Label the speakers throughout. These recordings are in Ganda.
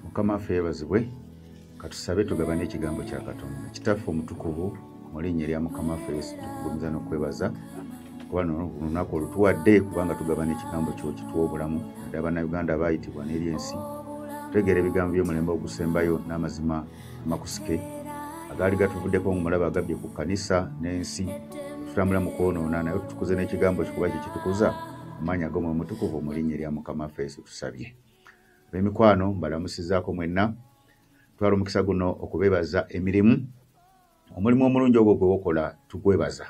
Speaker 1: mukama ffe yebazibwe katusabe tugabane ekigambo kya katonda kitaffe omutukuvu mu linnya erya mukama ffe yesu tukugumiza n'okwebaza kuba lunaku olutuwadde kubanga tugabana ekigambo kyo kituwa obulamu naddala bannayuganda baayitibwa n'eri ensi tutegeera ebigambo by'omulembe ogusembayo n'amazima amakusike agaali gatuvuddeko ngumulaba agabye ku kanisa n'ensi tutambula mu kwonoona naye tutukuze n'ekigambo kikuba kye kitukuza amaanyi agomwe omutukuvu omulinnya erya mukama ffe yesu tusabye ab'emikwano mbalamusizaako mwenna twala omukisa guno okubeebaza emirimu omulimu omulungi ogwo gwe wokola tugwebaza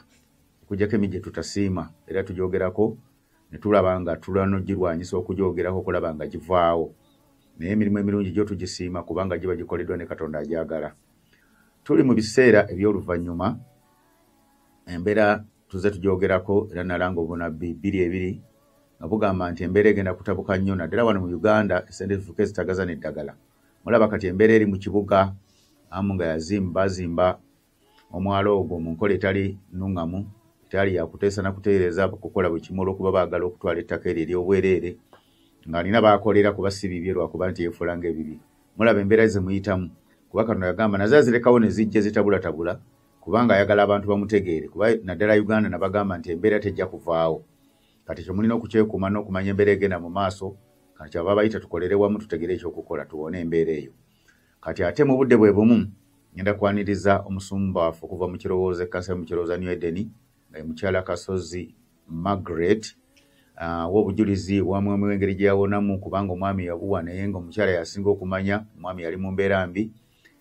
Speaker 1: okujjako emi gye tutasiima era tugyogerako ne tulaba nga tulwana ogirwanyisa okugyogerako okulaba nga givaawo naye emirimu emirungi gyo tugisiima kubanga giba gikoleddwa ne katonda agyagala tuli mu biseera eby'oluvannyuma embeera tuze tugyogerako era nalanga obunabbi bbiri ebiri nga bugamba nti embeera egenda kutabuka nnyo naddala wano mu uganda esente zifuka ezitagaza n'eddagala mulaba kati embeera eri mu kibuga amu nga yazimba bazimba omwalo ogwo mu nkola etali nuŋŋamu etali yakuteesa na kuteereza kukola buli kimu olw'okuba baagala okutwala ettaka eryo ery'obwereere ng'alina baakolera kuba si bibye lwakuba nti yeefuula ng'ebibye mulaba embeera ze muyitamu kuba kano yagamba naze azirekawo ne zijja zitabulatabula kubanga ayagala abantu bamutegeere kuba naddala uganda nabagamba nti embeera tejja kuvaawo kati ekyo mulina okukyekuuma n'okumanya embeera egenda mu maaso kati kyava bayita tukolere wamu tutegere ekyokukola tuwone embeera eyo kati ate mu budde bwe bumu ngenda kwaniriza omusumba waffe okuva mu kirowoozo ekkansa yo mu kirowooza new edeni nga ye mukyala kasozi margaret ah, wa obujulizi wa mwami w'engeri gye yawonamu kubanga omwami yabuwa naye nga omukyala yasinga okumanya omwami yali mu mbeera mbi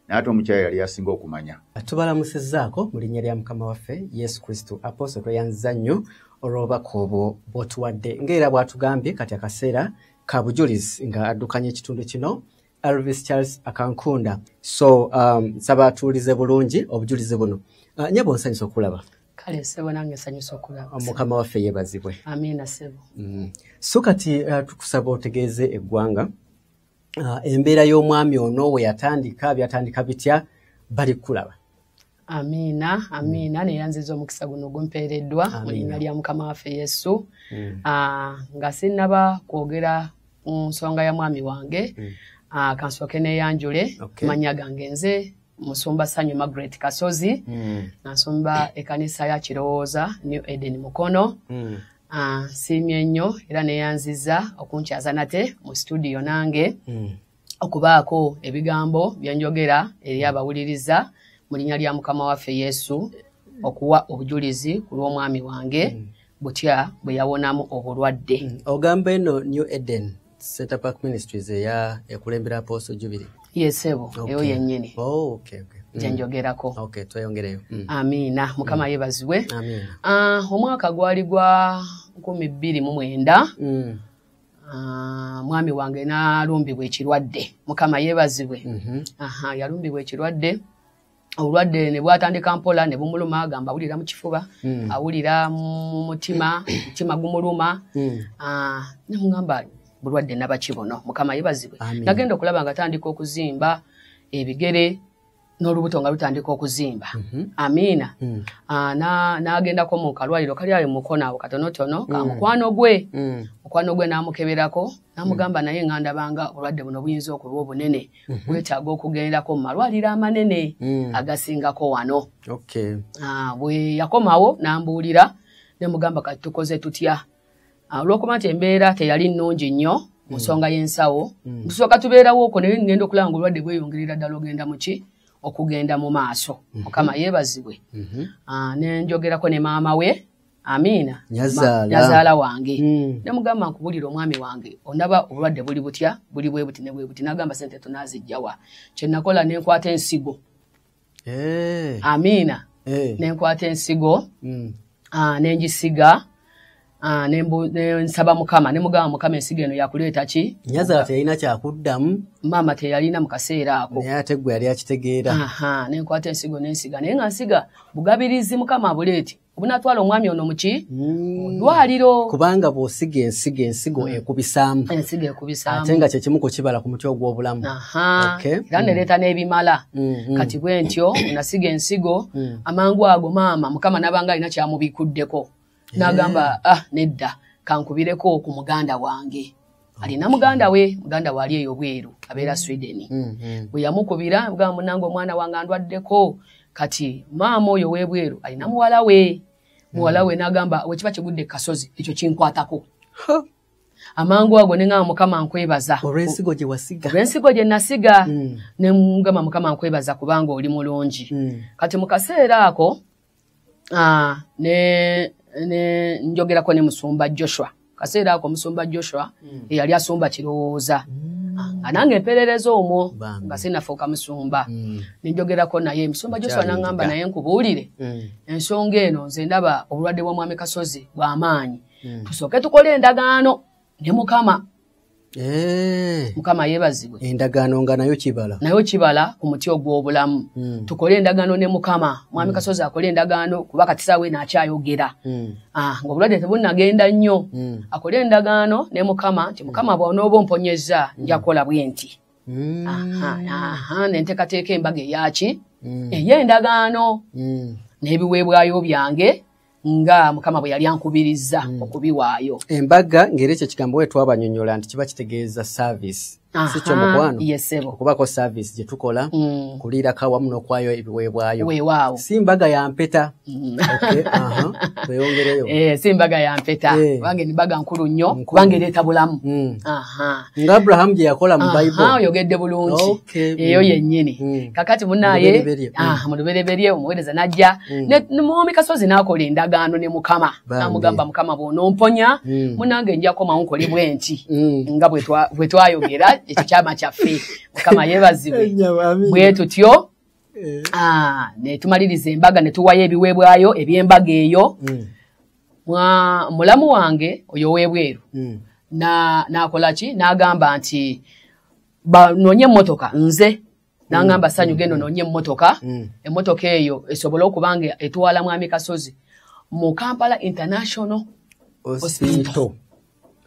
Speaker 1: naate omukyala yali yasinga okumanya tubalamusizaako
Speaker 2: mu linnya lya mukama waffe yesu kristo aposo tweyanziza nnyo olw'obubaka obwo bw'otuwadde ng'era bw'atugambye kati akaseera ka bujulizi nga addukanya ekitundu kino Elvis Charles Akankunda. So, um, saba tuulize bulungi obujulizi buno. Uh, nyebo nsanyusa okulaba. Kale sebo nange
Speaker 3: nsanyusa okulaba. Ah, Mukama waffe yebazibwe.
Speaker 2: Amina sebo.
Speaker 3: Mm. So kati
Speaker 2: uh, tukusaba otegeeze eggwanga uh, embeera y'omwami ono we yatandika byatandika bitya bali kulaba. amiina amiina
Speaker 3: mm. neyanziza omukisa guno gumpeereddwa mu linnya lya mukama waffe yesu mm. ah, nga sinnaba kwogera ku nsonga ya mwami wange mm. ah, kansooke neyanjule okay. manya gange nze musumba sanyu margaret kasozi mm. nasumba ekanisa ya kirowooza new eden mukono mm. ah, siimye nnyo era neyanziza okunkyaza nate mu situdiyo nange mm. okubaako ebigambo byenjogera eri abawuliriza mu linnya lya mukama waffe yesu okuwa obujulizi ku lw'omwami wange mm. butya bwe yawonamu obulwadde mm. ogamba eno
Speaker 2: new eden setapak ministries eya ekulembera apooso jubiri yesebo eyo
Speaker 3: yennyini oh, okay, okay. Mm.
Speaker 2: gyenjogerako
Speaker 3: okay, tweyongereyo
Speaker 2: mm. amiina mukama
Speaker 3: mm. yebazibwe uh,
Speaker 2: omwaka gwali
Speaker 3: gwa nkumi bbiri mu mwenda mm. Ah, mwami wange nalumbibwa ekirwadde mukama yebazibwe mhm. yalumbibwa ekirwadde obulwadde nebwatandika mpola nebumuluma agamba awulira mukifuba mm. awulira mumutima mutima gumuluma mm. ah, nemugamba bulwadde nabaki buno mukama yebazibwe nagenda okulaba nga atandika okuzimba ebigere n'olubuto nga lutandika okuzimba mhm. amiina mm. ah, n'agendako mu kalwaliro kali ayo mukono awo katonotono ka mm. mukwano gwe mm. mukwano gwe n'amukeberako n'amugamba naye nga ndabanga obulwadde buno buyinza okulwa obunene mhm. bwetaaga okugendako mu malwaliro amanene agasingako wano ah, bwe yakomawo n'ambuulira ne mugamba kati tukoze tutya Ah, olwokuba nti embeera teyali nnungi nnyo mu hmm. nsonga y'ensawo hmm. tusooka tubeerawoko naye ngenda okulaba nga obulwadde bweyongerera ddala ogenda muki okugenda mu maaso hmm. mukama yeebazibwe ah, nenjogerako ne maama we amiina nyazaala wange nemugamba nkubulira omwami wange onaba obulwadde buli butya buli bwebuti nebwebuti nagamba sente tunazijjawa kyenakola nenkwata ensigo amiina nenkwata ensigo mm. ah, nenjisiga Ah, nensaba mukama nemugamba mukama ensigo eno yakuleeta ki nyazala teyalina
Speaker 2: kyakuddamu maama teyalina
Speaker 3: mu kaseera ako naye ate gwe yali akitegeera
Speaker 2: nenkwata ensigo
Speaker 3: nensiga naye nga nsiga bugabirizi mukama abuleeti obunatwala omwami ono muki mm. dwaliro kubanga bwosiga
Speaker 2: ensigo ensigo mm. ekubisaamu ensigo ekubisaamu
Speaker 3: ate nga kyekimu kukibala
Speaker 2: ku mutwe ogw'obulamu era
Speaker 3: nereeta mm. n'ebimala mm-hmm. kati bwe ntyo nasiga ensigo amangu ago maama mukama nabanga alina kyamubikuddeko nagamba ah nedda kankubireko ku muganda wange alina muganda we muganda waali eyo bweru abeera mm. sweden mm, mm. bwe yamukubira ga munange omwana wange andwaddeko kati maama oyo webweru alina muwala we muwala we nagamba wekiba kigudde kasozi ekyo kinkwatako amangu ago nengamba mukama nkwebaza olwensigo gyewasiga
Speaker 2: olwensigo gye nasiga nemugamba mukama nkwebaza kubanga oli mulungi kati mu kaseera
Speaker 3: ako ah, ne ne njogerako ne musumba joshua kaseera ako musumba joshua mm. eyali asumba kirowooza mm. Ah, nga nange empeerereza omwo nga sinafuuka musumba mm. nenjogerako naye musumba joshua nangamba naye nkubuulire mm. ensonga eno nze ndaba obulwadde bwa mwami kasozi bwamaanyi mm. tusooke tukole endagaano ne mukama Eh. mukama yebazibwe endagaano nga nayo
Speaker 2: kibala nayo kibala ku muti ogw'obulamu hmm. tukole endagaano ne mukama mwami hmm. kasozi akole endagaano kuba katisaawe naakyayogera hmm. ah, ngaobulwadde tebunnagenda nnyo akole endagaano ne mukama nti mukama bwonooba omponyezza njakukola bwe nti nenteekateeka embaga eyaki eyo endagaano n'ebiweebwayo byange nga mukama bwe yali ankubirizza mm. okubiwaayo embaga ngeri ekyo ekigambo we twabanyonyola nti kiba kitegeeza service sikyo mukwano okubako service gye tukola mm. kuliirako awamu n'okwayo ebiweebwayo si mbaga
Speaker 3: ya mpeta
Speaker 2: mm. tweyongereyo eh, si mbaga ya mpeta
Speaker 3: eh. kubanga embaga nkulu nnyo kubanga ereeta bulamu mm. nga
Speaker 2: abrahamu gye yakola mu bible oyogedde bulungi
Speaker 3: eyo yennyini hmm. kakati munaye mu lubereberye hmm. ah, omuweereza najja hmm. muwomi kasozi n'akola endagaano ne mukama namugamba mukama bwonomponya munange njakomawo nkole bwenti nga bwe twayogera ekyo kyama kyaffe mukama yebazibwe bwe tutyo eh. ah, ne tumaliriza embaga ne tuwayo ebiweebwayo eby'embaga eyo mwa mulamu wange oyo webweru mm. na nakola ki nagamba nti ba nonye motoka nze nangamba mm. sanyu gendo nonye motoka mm. emotoka eyo esobola okubange etwala mwami kasozi mu Kampala International Hospital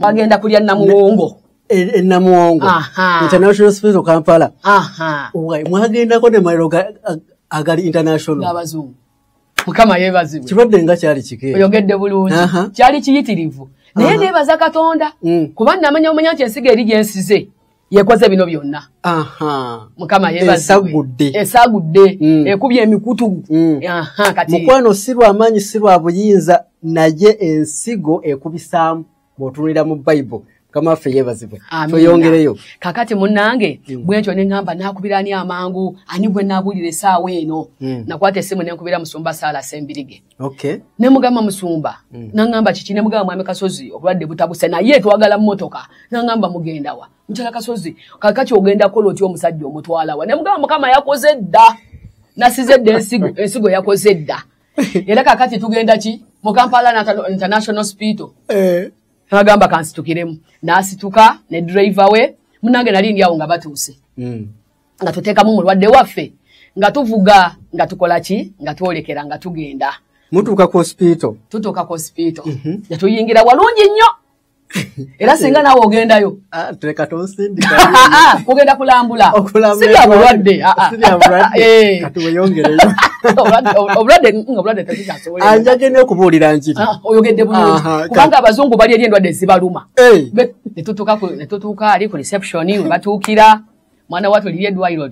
Speaker 3: bagenda kulya namuwongo enamuwongo
Speaker 2: e, e International Hospital Kampala aha mwagendako ne mailo agali international abazungu
Speaker 3: mukama yebazibwe kirwadde nga kyali kike
Speaker 2: oyogedde bulungi
Speaker 3: kyali kiyitirivu naye nebaza katonda mm. kuba namanya omanya nti ensiga eri gyensize yekoze bino byonna mukama yebazibwe esagudde mm. ekubye emikutu mm. mukwano si lwamaanyi
Speaker 2: si lwa buyinza naye ensigo ekubisaamu bwotunulira mu bible mukama waffe yebazibwe tweyongereyo kakati munange
Speaker 3: mm. bwentyo neŋamba nakubira ani amangu ani gwe nabulira esaawa eno mm. nakwata esimu nenkubira musumba saala sembirige okay. nemugamba musumba mm. naŋamba kiki nemugamba mwami kasozi obulwadde butabuse naye twagala mumotoka naŋamba mugendawa mukyala kasozi kakati ogenda kola otya omusajja omutwalawa nemugamba mukama yakoze dda nasize dda ensigo ensigo yakoze dda era kakati tugenda ki mu kampala international hospital eh. nagamba kansitukiremu nasituka ne driver we munange nali ndi awo nga batuuse hmm. nga tuteekamu mulwadde waffe nga tuvuga nga tukola ki nga twolekera nga tugenda mutuuka ku
Speaker 2: hospital tutuuka ku hospital
Speaker 3: mhm. nga tuyingira walungi nnyo era singa nawe ogendayo ah,
Speaker 2: ah, kugenda
Speaker 3: kulambula sibya bulwadde ah,
Speaker 2: eh.
Speaker 3: anjage nokubuulira
Speaker 2: njirioyogedde bulungi
Speaker 3: kubanga abazungu bali eri endwadde zibaluma eh. netutuuka ali ku reception webatuukira mwana watu liri eddwaliro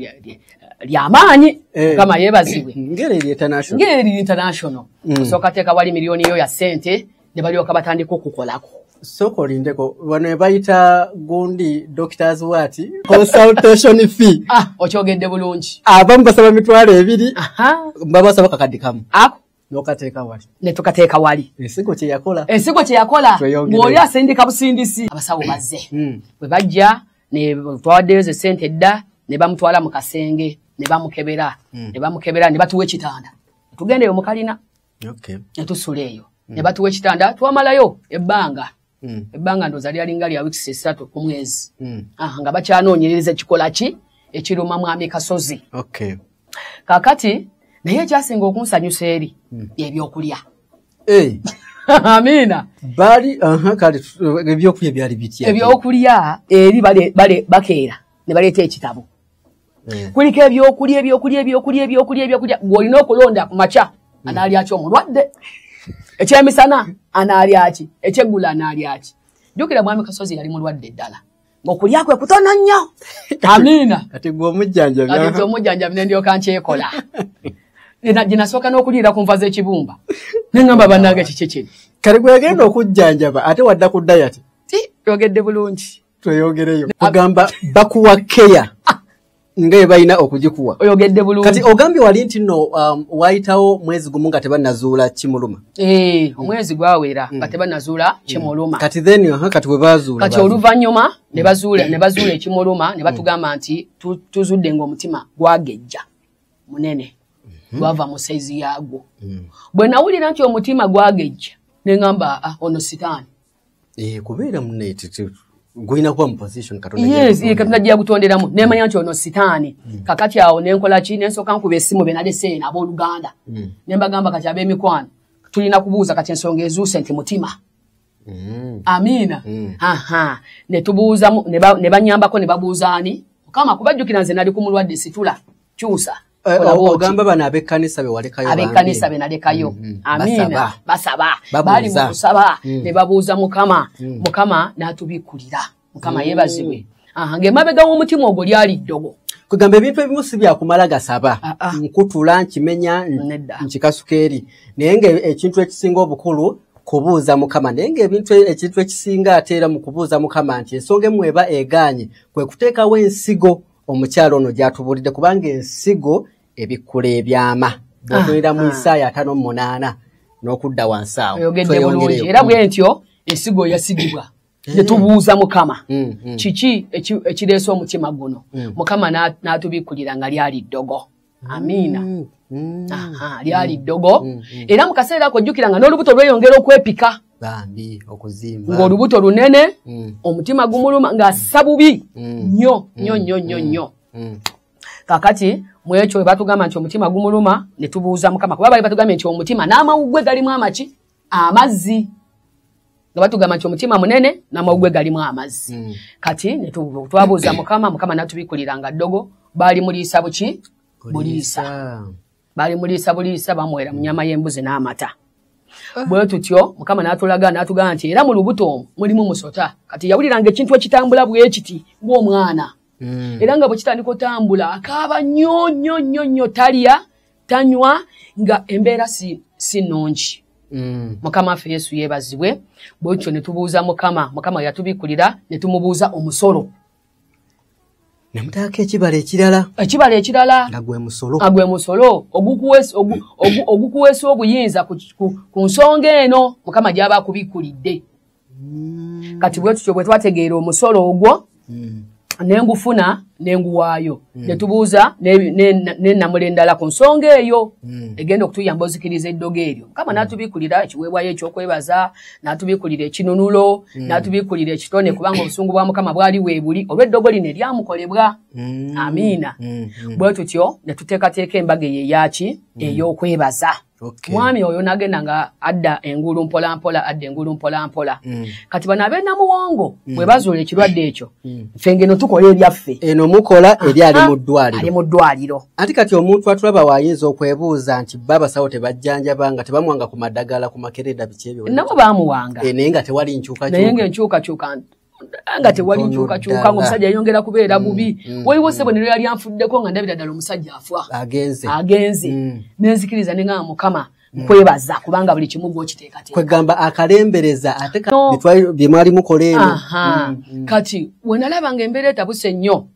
Speaker 3: lyamaanyi eh. mukama yebazibwe ngeri international mm. osooka teeka wali miliyoni yo ya sente ne balyoka batandika okukolako sooka olindeko
Speaker 2: bano ebayita gundi doctors wati consultation fee ah, okyogedde bulungi
Speaker 3: abamu basaba mitwalo
Speaker 2: ebiri babasaba kakaddi kamu ako nokateeka wali netukateeka wali
Speaker 3: ensigo kyeyakola
Speaker 2: ensigo kyeyakola
Speaker 3: ng'oli asindika busindisi abasawo bazze hmm. bwe bajja netwawaddeyo ze sente dda ne bamutwala mu kasenge ne bamukebera hmm. ne bamukebera ne batuwa ekitanda tugendeyo mukalina okay. netusula eyo mm. ne batuwa ekitanda twamalayo ebbanga mm. ebbanga ndoza lyalinga lya weeks esatu ku mwezi mm. ah, nga bakyanoonyereza ekikola ki ekiruma mwami kasozi okay. kakati naye ekyasinga okunsanyusa eri mm. ebyokulya hey. amiina bali uh-huh,
Speaker 2: kale ebyokulya byali bitya ebyokulya
Speaker 3: eri bakeera ne baleeta ekitabo mm. kuliko ebyokulya ebyokulya ebyokulya ebyokulya ebyokulya ng'olina okulonda ku makya mm. anaalyaki omulwadde ekyemisana anaalyaki ekyeggula anaalyaki jukira mwami kasozi yali mulwadde ddala ngaokulya kwe kutono nnyo amiina kati gwe
Speaker 2: omujjanjabi omujjanjabi
Speaker 3: nendyoka nkyekola ginasooka n'okuliira ku nva z'ekibumba neŋamba bannange kiki kiri kale gwegenda
Speaker 2: okujjanjaba ate wadda ku dayati yogedde
Speaker 3: bulungi tweyogereyo
Speaker 2: agamba bakuwa keya nga ebalina okugikuwa oyogedde bulungi kati
Speaker 3: ogambye wali nti no
Speaker 2: um, wayitawo mwezi gumu nga tebanazuula kimuluma eh, omwezi
Speaker 3: gwawera nga mm. tebanazuula mm. kimuluma kati then uh, kati
Speaker 2: webazuula kati oluvannyuma
Speaker 3: nebazuula nebazuula ekimuluma ne batugamba mm. nti tuzudde ngaomutima gwagejja munene mm-hmm. gwava mu saizi yaagwo bwe nawulira nti omutima gwagejja ne ŋamba ah, ono sitaani eh, kubeera
Speaker 2: munetete gulina kuba muposition katonda
Speaker 3: jagutonderamu nemanya nti ono sitaani hmm. kakati awo nenkolaki nensooka nkuba esimu benaleseen abooluganda hmm. nembagamba kati abemikwano tulina kubuuza kati ensonga ezuuse nti mutima hmm. amiina netubuuzamu nebanyambako nebabuuzaani mukama kubajjukira nze nali ku mulwadde situla kyusa Eh, ogamba
Speaker 2: bano abekkanisa bewalekayo abekkanisa be nalekayo
Speaker 3: mm, mm. amiina basaba bali mu kusaba mm. ne babuuza mukama mukama n'atubikkulira mukama yebazibwe ng'emabega w'omutima ogwo lyali ddogo kwegamba ebintu ebimu
Speaker 2: si byakumala gasaba ah, ah. nkutula nkimenya nkikasuka eri naye ngaekintu ekisinga obukulu kubuuza mukama naye ngaebintu e, ekintu ekisinga ateera mu kubuuza mukama nti ensonga emu eba egaanye kwe kuteekawo ensigo omukyalo ono gyatubuulidde kubanga ensigo ebikkula ebyama bwotunira ah, mu ah. isaayo atano mu munaana n'okudda wansi awo era
Speaker 3: bwe ntyo ensigo yasigibwa eh. netubuuza mukama mm, mm. kiki ekireese omutima guno mm. mukama n'atubikkulira nga lyali ddogo amiina mm, mm. lyali ddogo mm, era mu kaseera ako jjukira nga n'olubuto lweyongera okwepika
Speaker 2: ng'olubuto lunene
Speaker 3: omutima gumuluma ng'assa bubi nnyo nnyo nnyo nnyo nnyo kakati mwekyo webatugamba nti omutima gumuluma netubuuza mukama kuba bali batugambye nti omutima n'amawuggwe galimu amaki amazzi nga batugamba nti omutima munene namawugwe galimu amazzi mm. kati twabuuza mukama mukama natubikulira nga ddogo baali muliisa buki buliisa baali muliisa buliisa bamuwera mu nyama y'embuzi n'amata ah. bwe tutyo mukama n'atulaga n'atugamba nti era mu lubuto omu mulimu musota kati yawuliranga ekintu ekitambula bwekiti ng'omwana mm. era nga bwe kitandika otambula akaaba nnyo nnyo nnyo nnyo talya tanywa nga embeera si si nnungi Mm. mukama ffe yesu yeebazibwe bwekyo ne tubuuza mukama mukama yatubikulira ne tumubuuza omusolo
Speaker 2: ne mutaako ekibala ekirala ekibala ekirala nga gwe musolo nga gwe musolo
Speaker 3: ogukuweesa obuyinza ku nsonga eno mukama gy'aba akubikulidde mm. kati bwetutyo bwetwategeera omusolo ogwo mm. nengufuna nenguwaayo mm. netubuuza nenamula endala ku nsonga eyo mm. egenda okutuyamba ozikiriza eddogo eryo mukama mm. natubikulira ekiweebwayo ekyokwebaza natubikulira ekinunulo mm. natubikulira ekitone kubanga obusungu bwa mukama bwali weebuli olweddogo lino eryamukolebwa mm. amiina mm. mm. bwetutyo netuteekateeka embaga eyo eyaki mm. eyokwebaza Okay. mwami oyo nagenda nga adda engulu mpolampola adda engulu mpolampola mm. kati bano abenamuwongo mm. bwe bazuula ekirwadde ekyo mm. fe ngeno tukola ebyaffe eno mukola eri
Speaker 2: ali mu ddwaliro ali mu ddwaliro anti
Speaker 3: kati omuntu
Speaker 2: atulaba waayinza okwebuuza nti ba basawo tebajjanjaba nga tebamuwanga ku madagala ku makereda biki ebyo nabo bamuwanga e,
Speaker 3: naye nga tewali
Speaker 2: nkyukakyuka naye nga enkyukakyuka
Speaker 3: nga tewali nkyukakyuka nga omusajja yayongera kubeera mm, bubi mm, waliwo mm. sebonero yali anfuddeko nga ndabira ddala omusajja afa agenze nenzikiriza nengaa mukama kwebaza kubanga buli kimu gwokiteekateekwegamba akalembereza
Speaker 2: ate byemwali mukola eno kati
Speaker 3: wenalaba nga embeera etabuse nnyo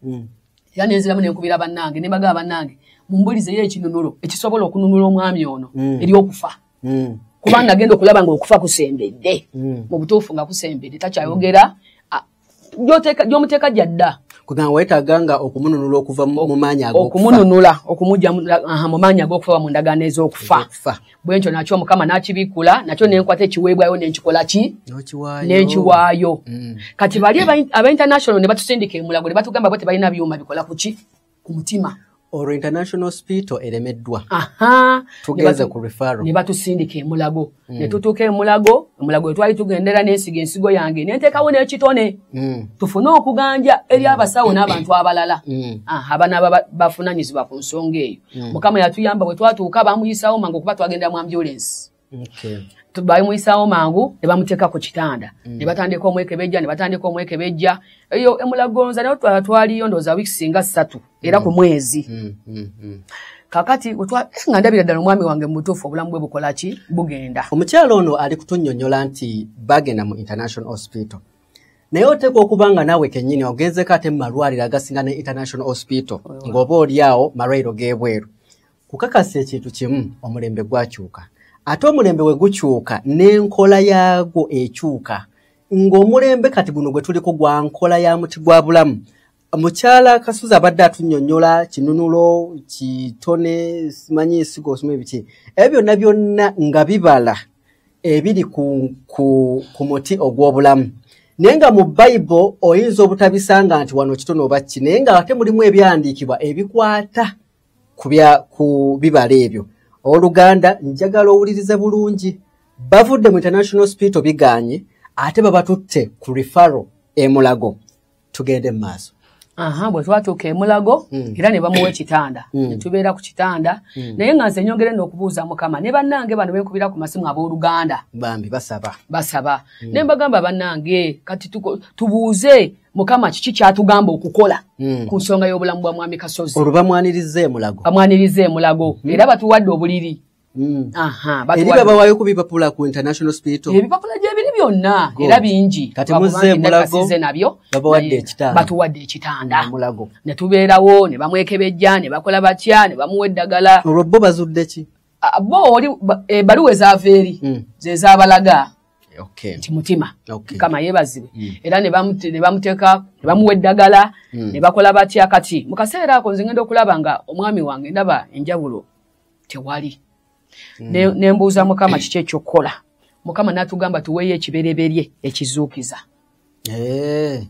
Speaker 3: era nenziramu nenkubira bannange nebagaa bannange mumbulizeyo ekinunulo ekisobola okununula omwami ono eri okufa mm. kubanga agenda okulaba nga okufa kusembedde mm. mu butuufu nga kusembedde takyayogera gyomuteeka gyadda kugamba wetaaga
Speaker 2: nga okumununula okuva mu maanyi okumununula
Speaker 3: okumugya mu maanyi ag'okufa mu ndagaano ez'okufa bwe ntyo nakyo mukama n'akibikkula nakyo nenkwata ekiweebwayo nenkikola ki nenkiwaayo mm. kati bali aba international ne batusindika emulago ne batugamba bo tebalina byuma bikola ku ki ku mutima olwo international
Speaker 2: hospital eremeddwa tugeze ku refaro ne batusindika emulago
Speaker 3: mm. ne tutuuka emulago emulago etwali tugendera n'ensiga ensigo yange ne nteekawo n'ekitone mm. tufune okuganja eri mm. abasawo n'abantu abalala mm. ah, abana bafunanyizibwa ku nsonga eyo mm. mukama yatuyamba bwe twatuuka bamuyisawo mangu okuba twagendera mu ambulensi bamuyisaawo mangu ne bamuteeka ku kitanda mm. ne batandika omwekebejja ne batandika omwekebejja eyo emulagonza naye twala twaliyo ndooza wiiki singa ssatu era ku mm. mwezi mm, kakati eh, nga ndabira ddala omwami wange mubutuufu obulamu bwe bukola ki bugenda omukyalo ono ali
Speaker 2: kutunyonyola nti bagenda mu international hospital naye oteeka okuba nga naawe kennyini ogenzeko ate mu malwaliro agasinga ne international hospital ng'oba oli awo malwaliro g'ebweru kukakasa ekintu kimu omulembe gwakyuka ate omulembe we gukyuka n'enkola yaagwo ekyuka ng'omulembe kati guno gwe tuliko gwa nkola ya muti gwa bulamu mukyala kasuza abadde atunyonyola kinunulo kitone simanyi esiga osoma ebiki ebyo byonna byonna nga bibala ebiri ku, ku, ku muti ogw'obulamu naye nga mu bayibo oyinza obutabisanga nti wano kitone obakki naye nga ate mulimu ebyandiikibwa ebikwata kubya ku bibala ebyo oluganda njagala owulirize bulungi bavudde mu international hospital biganye ate babatutte ku refaro emulago tugende mu maaso aha bwe twatuuka
Speaker 3: emulago hmm. era ne bamuwa ekitanda hmm. ne tubeera ku kitanda hmm. naye nga nze nyongere n'okubuuza mukama ne bannange bano benkubira ku masimu ab'oluganda bambi basaba
Speaker 2: basaba ne mbagamba
Speaker 3: bannange kati tubuuze mukama kiki kyatugamba okukola mm. ku nsonga y'obulamu bwa mwami kasozi olwo bamwaniriza emulago
Speaker 2: bamwaniriza emulago
Speaker 3: mm. era batuwadde obuliri
Speaker 2: mm. eri babawayo ku bipapula ku international spital ebipapula gyebiri byonna
Speaker 3: era bingi kati muzze emulago
Speaker 2: nabyo babawadde
Speaker 3: ekitanda batuwadde
Speaker 2: ekitanda emulago ne tubeerawo
Speaker 3: ne bamwekebejja ne bakola batya ne bamuwa eddagala olwo bo bazudde ki
Speaker 2: bo oli
Speaker 3: ebaluwa eh, ezaava eri mm. zezabalaga okay. nti
Speaker 2: mutima
Speaker 3: okay. kama yebazibwe mm. era nebamuteka nebamuwa eddagala mm. nebakola batya kati mukaseera ako nze ngenda okulaba nga omwami wange ndaba enjawulo tewali mm. nembuuza ne mukama kiki ekyokukola mukama natugamba tuweeyo ekibereberye ekizuukiza hey. Eh.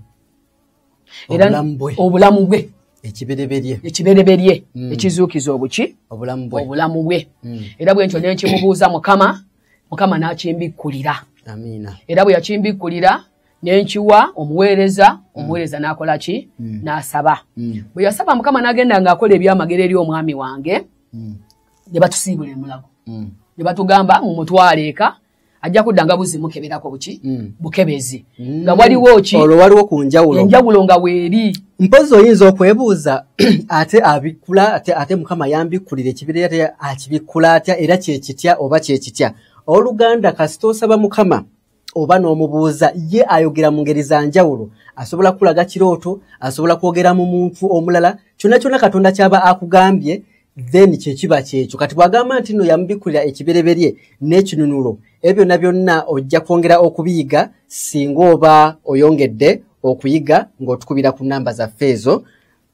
Speaker 3: era obulamu bwe ekibereberye ekibereberye mm. ekizuukiza obuki obulamu bwe mm. era bwentyo nenkimubuuza mukama mukama n'akimbikkulira
Speaker 2: era bwe yakimbikkulira
Speaker 3: nenkiwa omuweereza mm. omuweereza n'akola ki mm. n'asaba mm. bwe yasaba mukama n'agenda ng'akola ebyamagero eri omwami wange ne batusiibula emulago ne batugamba mumutwale eka ajja kudda nga buzimukeberako buki bukebezi mm. nga waliwo ki olwo waliwo ku njawulo
Speaker 2: enjawulo nga weeri
Speaker 3: mpozi oyinza
Speaker 2: okwebuuza ate abikkula ate, ate mukama yambikkulira ekibira ate akibikkula atya era kyekitya oba kyekitya oluganda kasita osaba mukama oba n'omubuuza ye ayogera mu ngeri za njawulo asobola kukulaga kirooto asobola kwogera mu muntu omulala kyonna kyonna katonda kyaba akugambye then kyekiba kyekyo kati bwagamba nti no yamubikkulira ekibereberye n'ekinunulo ebyo byonna byonna ojja kwongera okubiyiga singa oba oyongedde okuyiga ng'otukubira ku namba zaffe ezo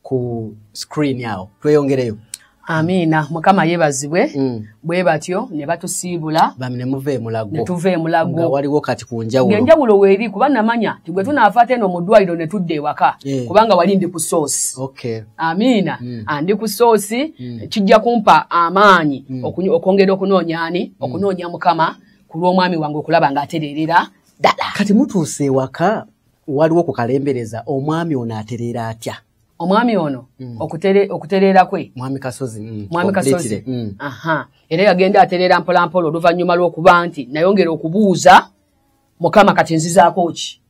Speaker 2: ku screen awo tweyongereyo amiina
Speaker 3: mukama yebazibwe mm. bwe batyo ne batusiibula bamnemuva emulago
Speaker 2: ne tuva emulago nga
Speaker 3: waliwo kati ku
Speaker 2: njawulo enjawulo weeri kuba
Speaker 3: namanya tigwe tunaafaate eno mu ddwaliro ne tudda ewaka eh. kubanga wali ndi ku soosi okay. amiina
Speaker 2: mm.
Speaker 3: andi ku soosi mm. kijja kumpa amaanyi mm. okwongera okunoonya ani mm. okunoonya mukama ku lw'omwami wange okulaba ng'atereerera ddala kati mutuuse
Speaker 2: ewaka waliwo okukalembereza omwami ono atereera atya omwami ono
Speaker 3: mm. okutereera kwe mwami kasozi mm.
Speaker 2: mwami kasozi mm.
Speaker 3: aha era yagenda atereera mpolampola oluvannyuma lw'okuba nti nayongera okubuuza mukama kati nzizaako ki